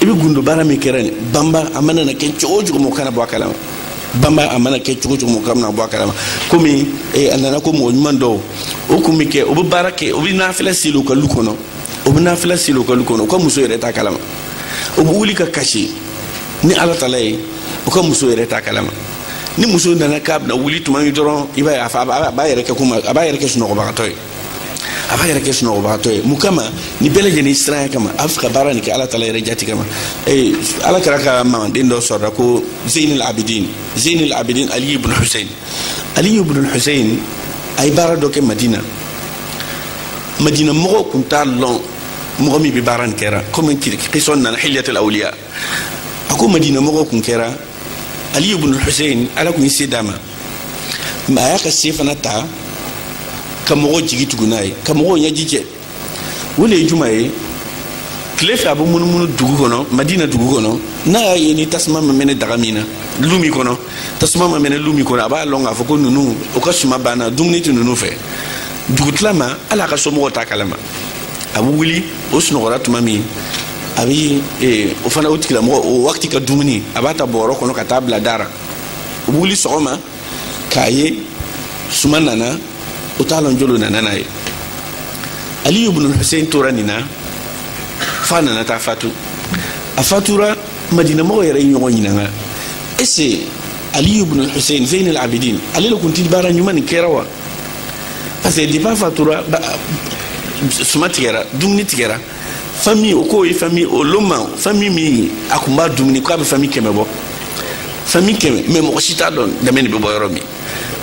i bɛ gundo baara min kɛra nin banba a mana na kɛ cogo o cogo mɔgɔ kana bɔ a kalama banba a mana kɛ cogo o cogo mɔgɔ kana bɔ a kalama komi eh, a nana ko mɔgɔ ɲuman dɔw o kun bɛ kɛ o bɛ baara kɛ o bɛ nafila seli o ka lu kɔnɔ o bɛ nafila seli o ka lu kɔnɔ o ka muso yɛrɛ t'a kalama o bɛ wuli ka kasi ni ala tala ye o ka muso yɛrɛ t'a kalama ni muso nana k'a bɛna wuli tuma min dɔrɔn i b'a ye a fa a b'a yɛrɛ kɛ komi a b'a yɛrɛ kɛ sunɔgɔbagatɔ ye a b'a yɛrɛ kɛ sunɔgɔbagatɔ ye mun kama nin bɛɛ lajɛlen siranya kama a b'a fɛ ka baara nin kɛ ala tala yɛrɛ jati kama ee ala kira ka mamaden dɔ sɔrɔla ko zeynul abidin zeynul abidin ali ibn husein ali ibn husein a ye baara dɔ kɛ madina madina mɔgɔw kun t'a lɔn mɔgɔ min bɛ baara nin kɛra komi kisa nin nana hiliyatul awliya a ko madina mɔgɔw kun kɛra ali ibn husein ala kun ye se d'a ma mais a y'a ka se fana ta ka mɔgɔw jigi tugu n'a ye ka mɔgɔw ɲɛji cɛ o le ye jumɛn ye tile fɛ a bɛ munumunu dugu kɔnɔ madina dugu kɔnɔ n'a y'a ye ni tasuma ma mɛnɛ daga min na lu min kɔnɔ tasuma ma mɛnɛ lu min kɔnɔ a b'a lɔn k'a fɔ ko ninnu o ka suma banna dumuni tɛ ninnu fɛ dugutila ma hali a ka somɔgɔw t'a kalama a bɛ wuli o sunɔgɔra tuma min a bɛ eh, o fana o tigilamɔgɔ o wagati ka dumuni a b'a ta bɔrɔ kɔnɔ ka taa bila da ra o bɛ wuli sɔgɔma k'a ye suma nana o t'a lɔn jɔn lo nana n'a ye aliyu bunu hussein tora nin na f'a nana taa fatu a fatura madina mɔgɔw yɛrɛ ye ɲɔgɔn ɲininka est-ce aliyu bin hussein zein al abidin ale de kun ti baara ɲuman nin kɛra wa parce que depuis a fatura suma tigɛra dumuni tigɛra famille o k'o ye famille o loma famille min a kun b'a dumuni k'a bɛ famille kɛmɛ bɔ famille kɛmɛ mais mɔgɔ si t'a dɔn dɛmɛ de bɛ bɔ yɔrɔ min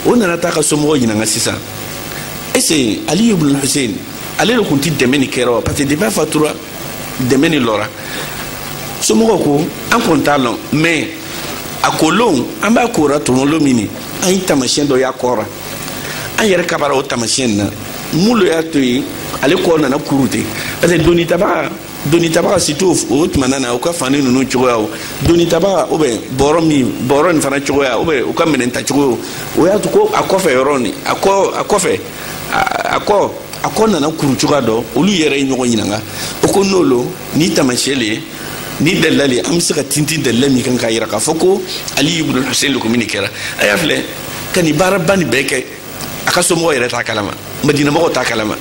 o nana taa a ka somɔgɔw ɲininka sisan est-ce aliyu bin hussein ale de kun ti dɛmɛ nin kɛra wa parce que depuis a fatura dɛmɛ nin lɔra somɔgɔw ko an kɔni t'a lɔn mais a ko lon an b'a kora tuma lo min na an ye tamasiyɛn dɔ y'a kɔ ra an yɛrɛ kabara o tamasiyɛn na mun lo y'a to ye ale kɔ nana kuru ten parce que doni tabaga doni tabaga surtout o tuma na o ka fani ninnu cogoya o doni tabaga ou bien bɔrɔ min bɔrɔ nin fana cogoya ou bien o ka minɛn ta cogo o y'a to ko a kɔfɛ yɔrɔ nin a kɔ a kɔfɛ a kɔ a kɔ nana kuru cogoya dɔ olu yɛrɛ ye ɲɔgɔn ɲininka o ko n'o lo nin taamasiyɛn le ye nin dalila le an bɛ se ka tintin dalila min kan k'a yira k'a fɔ ko ali ibn hussein lo ko min de kɛra a y'a filɛ ka nin baaraba nin bɛɛ kɛ a ka somɔgɔw yɛrɛ t'a kalama madina mɔgɔw t'a kalama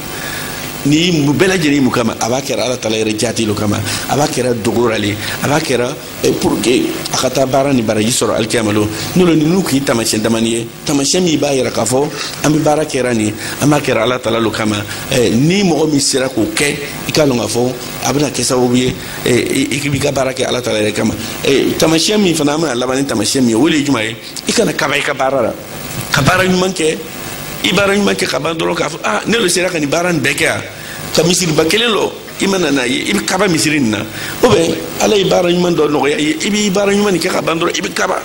nin bɛɛ lajɛlen mun kama a b'a kɛra ala tala yɛrɛ jati lo kama a b'a kɛra dogo ra le a b'a kɛra pour que a ka taa baara nin baraji sɔrɔ alikiyama lon o lo ninnu kun ye taamasiyɛn damani ye tamasiyɛn min b'a yira k'a fɔ an bɛ baara kɛra nin an b'a kɛra ala tala lo kama eh, ni mɔgɔ min sera k'o kɛ i k'a lɔn k'a fɔ a bɛna kɛ sababu ye eh, i b'i ka baara kɛ ala tala yɛrɛ kama eh, tamasiyɛn min fana an bɛna laban ni tamasiyɛn min ye o de ye jumɛn ye i kana kaba i ka baara la ka baara ɲuman kɛ i baara ɲuman kɛ ka ban dɔrɔn k'a fɔ ah ne lo sera ka nin baara nin bɛɛ kɛ yan ka misiriba kelen lɔ i mana n'a ye i bɛ kaba misiri nin na ou bien ala ye baara ɲuman dɔ nɔgɔya i ye i b'i baara ɲuman nin kɛ ka ban dɔrɔn i bɛ kaba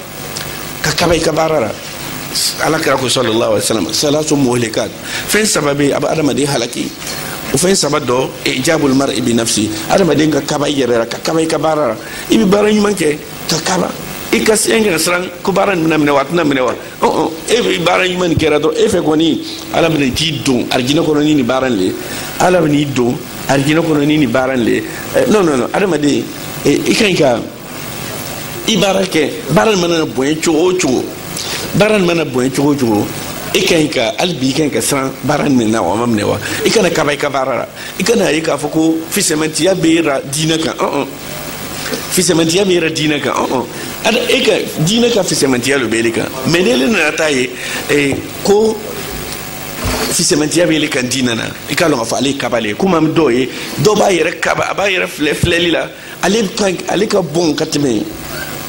ka kaba i ka baara la ala kira ko sallallahu alaihi wasallam salasu muhlikat fɛn saba bɛ a bɛ adamaden halaki o fɛn saba dɔ ijabul mar'i bi nafsi adamaden ka kaba i yɛrɛ la ka kaba i ka baara la i bɛ baara ɲuman kɛ ka kaba i ka siɲɛ kɛ ka siran ko baara nin bɛna minɛ wa a tɛna minɛ wa e bɛ baara ɲuman nin kɛra dɔrɔn e fɛ kɔni ala bɛna t'i don arijinɛ kɔnɔ ni nin baara nin le ala bɛna i don arijinɛ kɔnɔ ni nin baara nin le non non non adamaden i ka ɲi ka i baara kɛ baara nin mana bonya cogo o cogo baara nin mana bonya cogo o cogo i ka ɲi ka hali bi i ka ɲi ka siran baara nin minɛ wa a ma minɛ wa i kana kaba i ka baara la i kan'a ye k'a fɔ ko fisɛmɛtiya b'i ra diinɛ kan ɔn fisɛmɛtiya b'i ra diinɛ kan ɔn ada e ka diinɛ ka fisɛmɛtiya lo b'e kan mais n'e nana t'a ye eh, ko fisɛmɛtiya b'e kan diinɛ na i k'a lɔn k'a fɔ ale ye kaba le ye komi an bɛ dɔw ye dɔw b'a yɛrɛ kaba a b'a yɛrɛ filɛ filɛli la ale ka ale ka bon ka tɛmɛ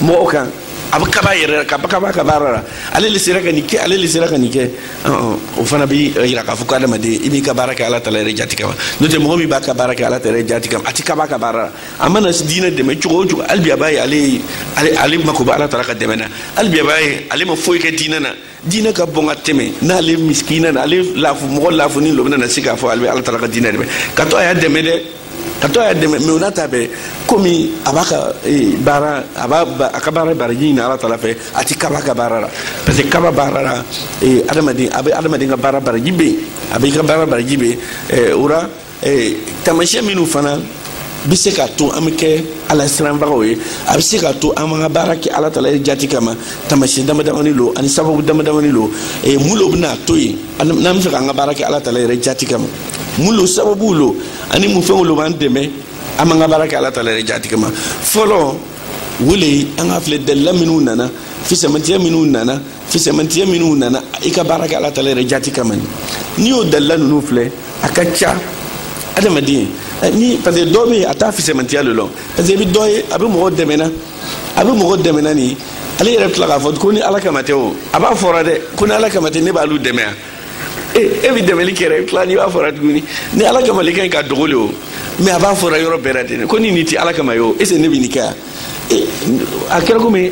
mɔgɔw kan a bɛ kaba a yɛrɛ la ka kaba a ka baara la ale le sera ka nin kɛ ale le sera ka nin kɛ o fana bɛ yira k'a fɔ ko adamaden i b'i ka baara kɛ ala tala yɛrɛ jati kama n'o tɛ mɔgɔ min b'a ka baara kɛ ala tala yɛrɛ jati kama a tɛ kaba a ka baara la a mana diinɛ dɛmɛ cogo o cogo hali bi a b'a ye ale ale ale mako bɛ ala tala ka dɛmɛ na hali bi a b'a ye ale ma foyi kɛ diinɛ na diinɛ ka bon ka tɛmɛ n'ale misikina na ale lafu mɔgɔ lafunin lo bɛna na se k'a fɔ ale bɛ ala tala ka diinɛ dɛmɛ ka to a y'a dɛmɛ dɛ ka to a y'a dɛmɛ mais o n'a ta bɛɛ komi a b'a ka eh, baara a b'a a ka baara baraji ɲini ala tala fɛ a ti kaba a ka baara la parce que kaba baara la eh, adamaden a bɛ adamaden ka baara baraji ben a bɛ i ka baara baraji ben eh, o la ee taamasiyɛn minnu fana bɛ se k'a to an bɛ kɛ ala siranbagaw ye a bɛ se k'a to an b'an ka baara kɛ ala tala yɛrɛ jati kama taamasiyɛn dama damani lo ani sababu dama damani lo ee mun lo bɛna to yen n'an bɛ fɛ k'an ka baara kɛ ala tala yɛrɛ jati kama mun lo sababuw lo ani mun fɛnw lo b'an dɛmɛ an b'an ka baara kɛ ala tala yɛrɛ jati kama fɔlɔ o le an ka filɛ dalila minnu nana fisamantiya minnu nana fisɛmantiya minnu nana i ka baara kɛ ala tala yɛrɛ jati kama ni n'i y'o dalila ninnu filɛ a ka ca adamaden eh, ni parce que dɔ bɛ yen a t'a fisɛmantiya lɔn parce que i bɛ dɔ ye a bɛ mɔgɔ dɛmɛna a bɛ mɔgɔ dɛmɛna nin ale yɛrɛ bɛ tila k'a fɔ ko ni ala kama tɛ o a b'a fɔra dɛ ko ni ala kama tɛ ne b'alu dɛmɛ yan e e bɛ dɛmɛli kɛ dɛ i bɛ tila n'i b'a fɔra tuguni ni ala kama le ka ɲi ka dogo le o mais a b'a fɔra yɔrɔ bɛɛ la ten ko ni nin tɛ ala kama ye o est ce que ne bɛ nin kɛ yan a kɛra komi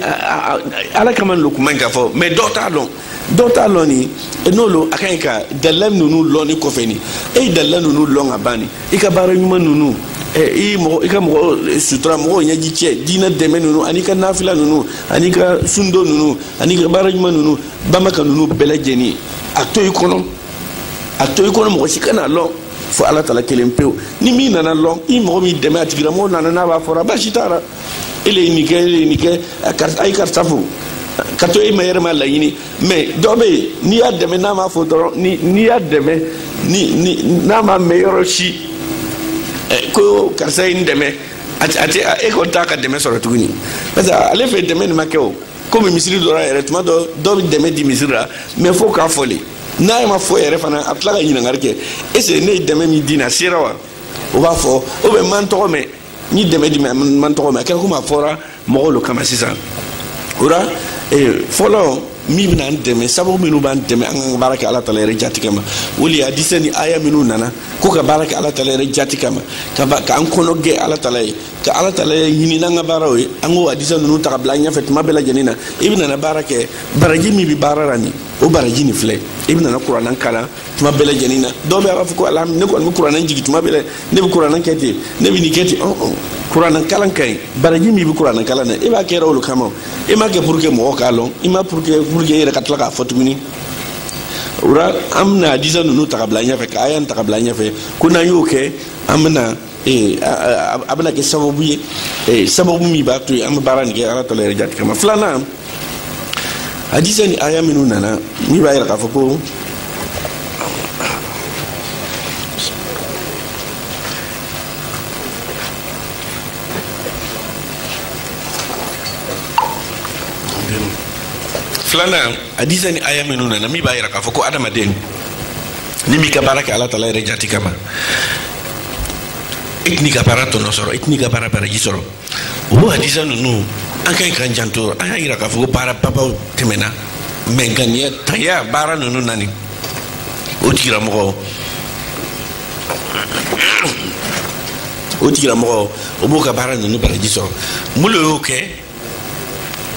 ala kama lo kuma ka fɔ mais dɔw t'a lɔn dɔw t'a lɔn nin n'o lo a ka ɲi ka dalila ninnu lɔn nin kɔfɛ ni e ye dalila ninnu lɔn ka ban nin i ka baara ɲuman ninnu i mɔgɔ i ka mɔgɔ sutura mɔgɔw ɲɛji cɛ diina dɛmɛ ninnu ani i ka nafila ninnu ani i ka sundon ninnu ani i ka baara ɲuman ninnu bamaka ninnu bɛɛ lajɛlen a to i kɔnɔ a to i kɔnɔ mɔgɔ si kana lɔn fo ala tala kelen pewu ni min nana lɔn i mɔgɔ min dɛmɛ a tigilamɔgɔ nana n'a b'a fɔra basi t'a la e le ye nin kɛ e le ye nin kɛ a ye karisa fo ka to e ma yɛrɛ m'a laɲini mais dɔ bɛ yen n'i y'a dɛmɛ n'a m'a fɔ dɔrɔn n'i y'a dɛmɛ n'a ma mɛn yɔrɔ si ko karisa ye n dɛmɛ a tɛ e kɔni t'a ka dɛmɛ sɔrɔ tuguni parce que ale fɛ dɛmɛ nin ma kɛ o komi misiri dɔ la yɛrɛ tuma dɔ dɔ bɛ dɛmɛ di misiri la mais fo k'a fɔ le n'a ma fɔ yɛrɛ fana a bɛ tila ka ɲininkali kɛ est ce ne ye dɛmɛ min di n'a sera wa o b'a fɔ o bɛ n ma n tɔgɔ mɛn n ye dɛmɛ di n ma n tɔgɔ mɛn a kɛra komi a fɔra mɔgɔw lo kama sisan o la eh, fɔlɔ min bɛna an dɛmɛ sababu minnu b'an dɛmɛ an ka baara kɛ ala tala yɛrɛ jati kama o le hadisa ni aya minnu nana ko ka baara kɛ ala tala yɛrɛ jati kama k'an kɔnɔ gɛ ala tala ye ka ala tala yɛrɛ ɲini n'an ka baaraw ye an k'o hadisa ninnu ta ka bila an ɲɛfɛ tuma bɛɛ lajɛlen na i bɛna na baara kɛ baraji min bɛ baara la nin o baraji nin filɛ i bɛna na kuranɛ kalan tuma bɛɛ lajɛlen na dɔw bɛ a b'a fɔ ko ala ne kɔni bɛ kuranɛ jigin tuma bɛɛ ne bɛ kuranɛ kɛ ten ne bɛ nin kɛ ten ɔn ɔn kuranɛ kalan ka ɲi baraji min bɛ kuranɛ kalan na e b'a kɛra o le kama e m'a kɛ pour que mɔgɔw k'a lɔn i m'a pour que pour que e yɛrɛ ka tila k'a fɔ tuguni o la an bɛna hadisa ninnu ta ka bila an ɲɛfɛ ka aya ta ka bila an ɲɛfɛ ko n'an y'o kɛ an bɛna ee a bɛna kɛ sababu ye ee sababu min b'a to yen an bɛ baara nin kɛ ala tala yɛrɛ jati kama filanan hadisa ni aya minnu nana min b'a yira k'a fɔ ko filanan hadisa ni aya minnu nana min b'a yira k'a fɔ ko adamaden n'i m'i ka baara kɛ ala tala yɛrɛ jati kama i tɛn'i ka baara tɔnɔ sɔrɔ i tɛn'i ka baara baraji sɔrɔ o hadisa ninnu an ka ɲi k'an janto a y'a yira k'a fɔ ko baara babaw tɛmɛna mais ŋaniya tanya baara ninnu na ni o tigilamɔgɔ o tigilamɔgɔ o b'o ka baara ninnu baraji sɔrɔ mun lo y'o kɛ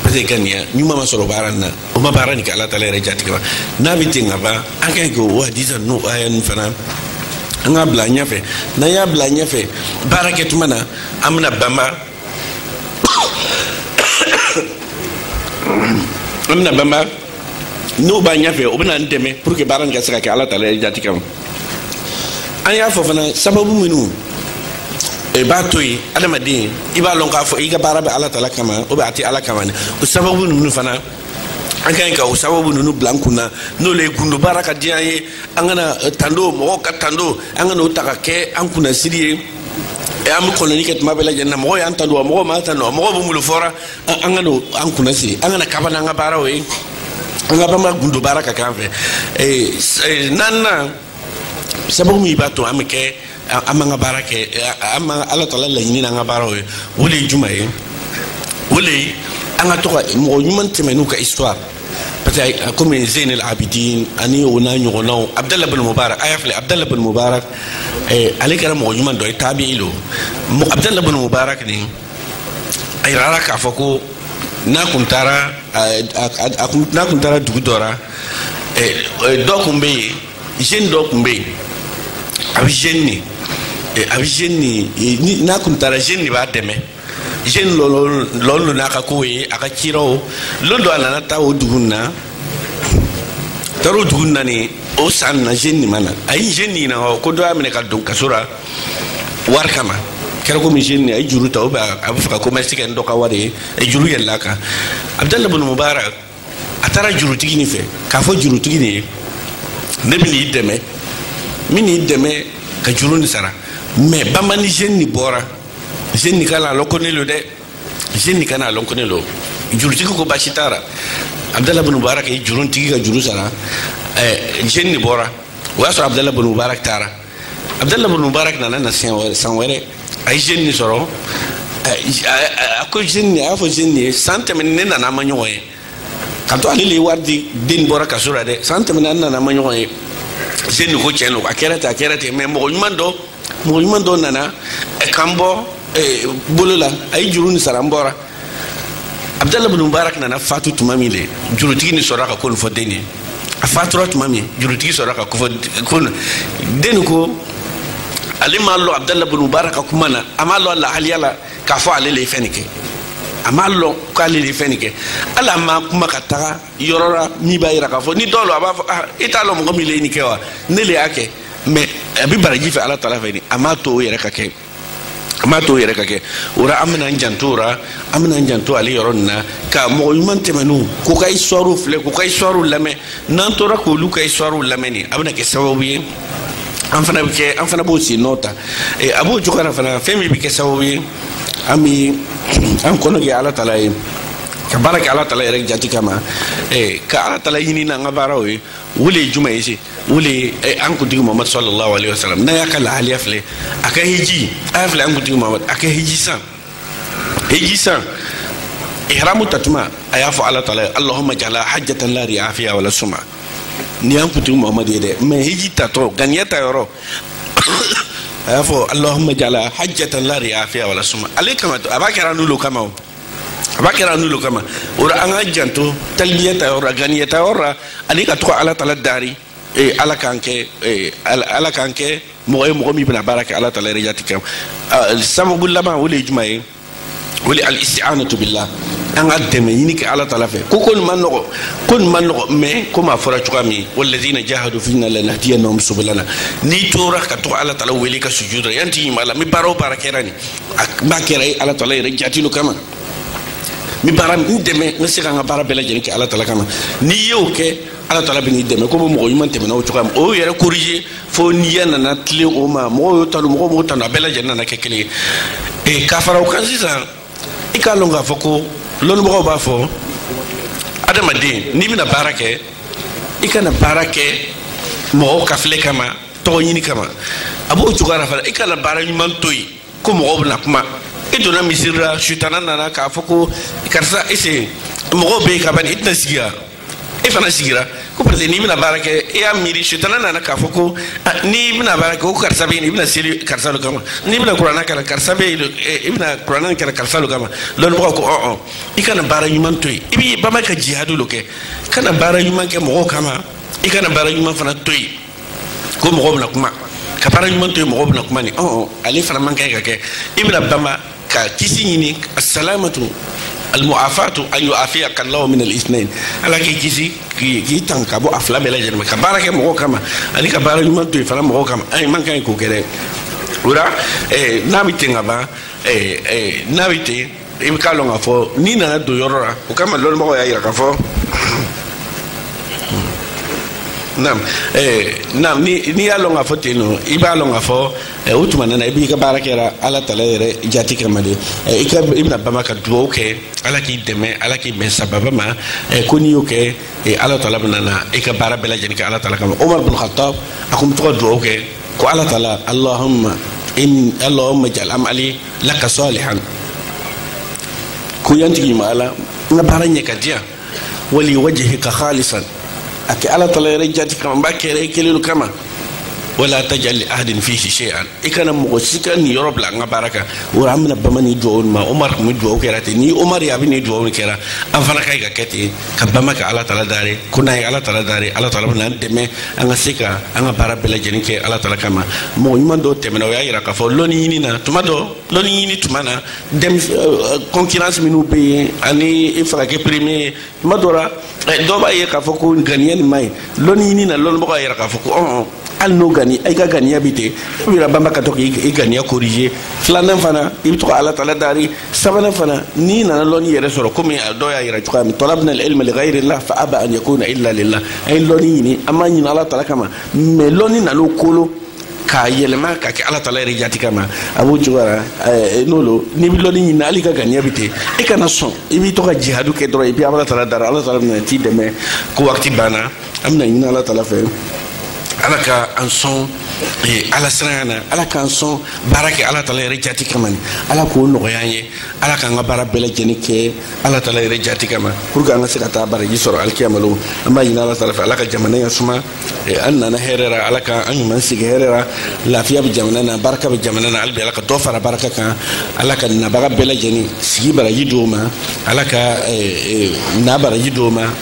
parce que ŋaniya ɲuman ma sɔrɔ baara nin na o ma baara nin kɛ ala taala yɛrɛ jati kama n'a bɛ ten ka ban an ka ɲi k'o hadisa n'o aya nin fana an k'a bila ɲɛfɛ n'an y'a bila ɲɛfɛ baara kɛ tuma na an bɛna banba an bɛna banba n'o b'an ɲɛfɛ o bɛn'an dɛmɛ pour que baara nin ka se ka kɛ ala tala yɛrɛ jati kama an y'a fɔ fana sababu minnu i b'a to yen adamaden i b'a lɔn k'a fɔ i ka baara bɛ ala tala kama o bɛ a tɛ ala kama dɛ o sababu ninnu fana an ka ɲi ka o sababu ninnu bila an kun na n'olu ye gundo baara ka diya an ye an kana eh, tando mɔgɔw ka tando an kana o ta ka kɛ an kunnasiri ye eh, an bɛ kɔlɔnni kɛ tuma bɛɛ lajɛlen na mɔgɔw y'an tando wa mɔgɔw m'an tando wa mɔgɔw bɛ mun lo fɔra an kan'o an kunna siri an kana kaba n'an ka baaraw ye an ka banba gundo baara ka k'an fɛ naaninan sababu min b'a to an bɛ kɛ an b'an ka baara kɛ an bɛ ala tala laɲini n'an ka baaraw ye o le ye juman ye o le ye an ka to ka mɔgɔ ɲuman tɛmɛnenw ka histoire parce que komi zeyn el abidin ani o n'a ɲɔgɔnnaw abdalla bin mubarak a y'a filɛ abdalla bin mubarak ale kɛra mɔgɔ ɲuman dɔ ye tabi'i lo abdalla bin mubarak nin a yirara k'a fɔ ko n'a kun taara n'a kun taara dugu dɔ ra dɔ kun bɛ yen jeune dɔ kun bɛ yen a bɛ jeune nin a bɛ jeune nin n'a kun taara jeune nin b'a dɛmɛ jeune lo lɔ n'a ka kow ye a ka ciraw lon dɔ a nana taa o dugu nin na taara o dugu nin na nin o san nin na jeune nin ma na a ye jeune nin ɲininka ko dɔ y'a minɛ ka don kaso ra wari kama kɛra komi jeune a ye juru ta ou bien a bɛ fɛ ka commerce kɛ ni dɔ ka wari ye a ye juru yɛlɛla a kan abdalla bin mubarak a taara jurutigi nin fɛ k'a fɔ jurutigi nin ye ne bɛn'i dɛmɛ n bɛn'i dɛmɛ ka juru nin sara mais banba ni jeune nin bɔra jeune nin kana a lɔn ko ne lo dɛ jeune nin kana a lɔn ko ne lo jurutigi ko baasi t'a ra abdalla bin mubarak ye jurutigi ka juru sara ɛɛ jeune nin bɔra o y'a sɔrɔ abdalla bin mubarak taara abdalla bin mubarak nana na san wɛrɛ a ye jeune nin sɔrɔ a ko jeune nin a y'a fɔ jeune nin ye san tɛmɛnen ne nana an ma ɲɔgɔn ye ka to ale le ye wari di den nin bɔra kaso ra dɛ san tɛmɛnen an nana an ma ɲɔgɔn ye jeune nin ko tiɲɛ lo a kɛra ten a kɛra ten mais mɔgɔ ɲuman dɔ mɔgɔ ɲuman dɔ nana ka n bɔ bolo la a ye juru nin sara n bɔra abudala bin mubarak nana fatu tuma min le jurutigi nin sɔrɔ ka ko nin fɔ den ye a fatura tuma min jurutigi sɔrɔ ka ko fɔ ko den ko ale m'a lɔn abudala bin mubarak ka kuma na a m'a lɔn lahaliya la k'a fɔ ale le ye fɛn nin kɛ a m'a lɔn k'ale le ye fɛn nin kɛ hali a ma kuma ka taga yɔrɔ la min b'a yira k'a fɔ ni dɔw lo a b'a fɔ ah i t'a lɔn mɔgɔ min le ye nin kɛ wa ne le y'a kɛ mɛ a bɛ baraji fɛ ala tala fɛ de a m'a to o yɛrɛ ka kɛ a m'a to o yɛrɛ ka kɛ o la an bɛna n janto o la an bɛna n janto ale yɔrɔ nin na ka mɔgɔ ɲuman tɛmɛnenw k'u ka histoire filɛ k'u ka histoire lamɛn n'an tora k'olu ka histoire lamɛn nin a bɛna kɛ sababu ye an fana bɛ kɛ an fana b'o sen nɔ ta a b'o cogoya la fana fɛn min bɛ kɛ sababu ye an bɛ an kɔnɔ gwɛ ala tala ye ka baara kɛ ala tala yɛrɛ jati kama ka ala tala ɲini n'an ka baaraw ye o le ye jumɛn ye se o le ye eh, an kuntigi mamadu salalahu alayhi wa salam n'a y'a ka lahaliya filɛ a ka hiji a y'a filɛ an kuntigi mamadu a ka hiji san hiji san ihramu tatuma a y'a fɔ ala taala ye alahuma jala hajatan la riya fiha wala suma nin y'an kuntigi mamadu ye dɛ mɛ hiji tatɔ ŋaniya ta yɔrɔ a y'a fɔ alahuma jala hajatan la riya fiha wala suma ale kama a b'a kɛra n'olu kama o a b'a kɛra n'olu kama o la an k'an janto talibiya ta yɔrɔ la ŋaniya ta yɔrɔ la ani ka to ka ala tala dari ee eh, ala k'an kɛ ee eh, ala k'an kɛ mɔgɔ ye mɔgɔ min bɛna baara kɛ ala tala yɛrɛ jati kama ah, sababu laban o le ye jumɛn ye o le ye al-isti'anatu billah an ka dɛmɛ ɲini kɛ ala tala fɛ ko ko nin man nɔgɔ ko nin man nɔgɔ mɛ komi a fɔra cogoya min walladina jahadu fina lanahdiyannahum subulana n'i tora ka to ala tala wele ka sujud la ya n tigi ma ala n bɛ baara o baara kɛra nin n b'a kɛra e ala tala yɛrɛ jati le kama n bɛ baara n dɛmɛ n bɛ se ka n ka baara bɛɛ lajɛlen kɛ ala tala kama n'i y'o kɛ ala tala bɛn'i dɛmɛ komi mɔgɔ ɲuman tɛmɛnenw cogoya min o yɛrɛ korije fo niyya nana tilen o ma mɔgɔw y'o tanu mɔgɔw m'o tanu a bɛɛ lajɛlen nana kɛ kelen ye ee ka fara o kan sisan i k'a lɔn k'a fɔ ko lɔnnibagaw b'a fɔ adamaden n'i bɛna baara kɛ i kana baara kɛ mɔgɔw ka filɛ kama tɔgɔ ɲini kama a b'o cogoyara fana i kana baara ɲuman to yen ko mɔgɔw bɛna kuma i donna misiri la sutana nana k'a fɔ ko karisa i sen mɔgɔw bɛ yen ka ban i tɛna sigi yan e fana sigira ko parce que n'i bɛna baara kɛ e y'a miiri sutana nana k'a fɔ ko n'i bɛna baara kɛ ko karisa bɛ yen i bɛna seli karisa le kama n'i bɛna kuranna kalan karisa bɛ yen i bɛna kuranna nin kalan karisa le kama lɔnnibagaw ko ɔn i kana baara ɲuman to yen i b'i banba ka jihadu le kɛ kana baara ɲuman kɛ mɔgɔw kama i kana baara ɲuman fana to yen ko mɔgɔw bɛna kuma ka baara ɲuman to yen mɔgɔw bɛna kuma nin ɔn ale fana man kan ye ka kɛ i bɛna banba ka kisi ɲini asalamatu almuafatu an yuafiyaka llahu min alisnain ala k'i kisi k'i tanga ka bɔ a fila bɛɛ lajɛlen ma ka baara kɛ mɔgɔw kama ani ka baara ɲuman to yen fana mɔgɔw kama an man kan ye k'o kɛ dɛ o la n'a bɛ ten ka ban n'a bɛ ten i bɛ k'a lɔn k'a fɔ n'i nana don yɔrɔ la o kama lɔnnibagaw y'a yira k'a fɔ naam eh, naam n'i y'a lɔn k'a fɔ ten lo i b'a lɔn k'a fɔ eh, o tuma nana i b'i ka baara kɛra ala tala yɛrɛ jati kama de eh, i ka i bɛna bama ka dugawu kɛ ala k'i dɛmɛ ala k'i bɛn sababa ma eh, ko n'i y'o kɛ eh, ala tala bɛna na i ka baara bɛɛ lajɛlen kɛ ala tala kama omar bin khattab a kun bɛ to ka dugawu kɛ ko ala taala allahumma in allahumma ij'al amali laka salihan ko ya n tigi ma ala n ka baara ɲɛ ka diya wa li wajhika khalisan a kɛ ala taala yɛrɛ jati kama n b'a kɛra i kelen lo kama wala tajal li ahadin fihi shay'an i kana mɔgɔ si ka niyɔrɔ bila n ka baara kan o ra an bɛna bama ni duwawu ma omar kun bɛ duwawu kɛra ten ni omar ye a bɛ nin duwawu kɛra an fana ka ɲi k'a kɛ ten ka bama ka ala tala dari ko n'an ye ala tala dari ala tala bɛna an dɛmɛ an ka se ka an ka baara bɛɛ lajɛlen kɛ ala tala kama mɔgɔ ɲuman dɔw tɛmɛna o y'a yira k'a fɔ lɔnni ɲini na tuma dɔ lɔnni ɲini tuma na concurrence minnu bɛ yen ani i fana ka kɛ premier ye tuma dɔ la dɔw b'a ye k'a fɔ ko ganiya nin ma ɲi lɔnni ɲini na lɔnnibagaw y'a yira k'a fɔ ko ɔn hali n'o gani i ka ganiya bi ten i bɛna bama ka to k'i ganiya corriger filanan fana i bɛ to ka ala tala dari sabanan fana n'i nana lɔnni yɛrɛ sɔrɔ komi a dɔ y'a yira cogoya min talabna alilma li ghayri llah fa aba an yakuna illa lillah an ye lɔnni ɲini an m'a ɲini ala tala kama mais lɔnni nan'o kolo k'a yɛlɛma ka kɛ ala tala yɛrɛ jati kama a b'o cogoya la eh, n'o lo n'i bɛ lɔnni ɲini hali i ka ganiya bɛ ten i kana sɔn i b'i to ka jihadu kɛ dɔrɔn i bɛ ala tala dari ala tala bɛna t'i dɛmɛ ko waati banna an bɛna ɲini ala tala fɛ ala ka an sɔn eh, ala siranya na ala k'an sɔn baara kɛ ala tala yɛrɛ jati kama ni ala k'o nɔgɔya an ye ala k'an ka baara bɛɛ lajɛlen kɛ ala tala yɛrɛ jati kama pour que an ka se ka taa baraji sɔrɔ alikiyama lon an b'a ɲini ala tala fɛ ala ka jamana ya suma eh, an nana hɛrɛ ra ala ka an ɲuman segin hɛrɛ ra lafiya bɛ jamana na barika bɛ jamana na hali bi ala ka dɔ fara barika kan ala ka nabaga bɛɛ lajɛlen sigi baraji d'o ma ala ka eh, eh, na baraji d'o ma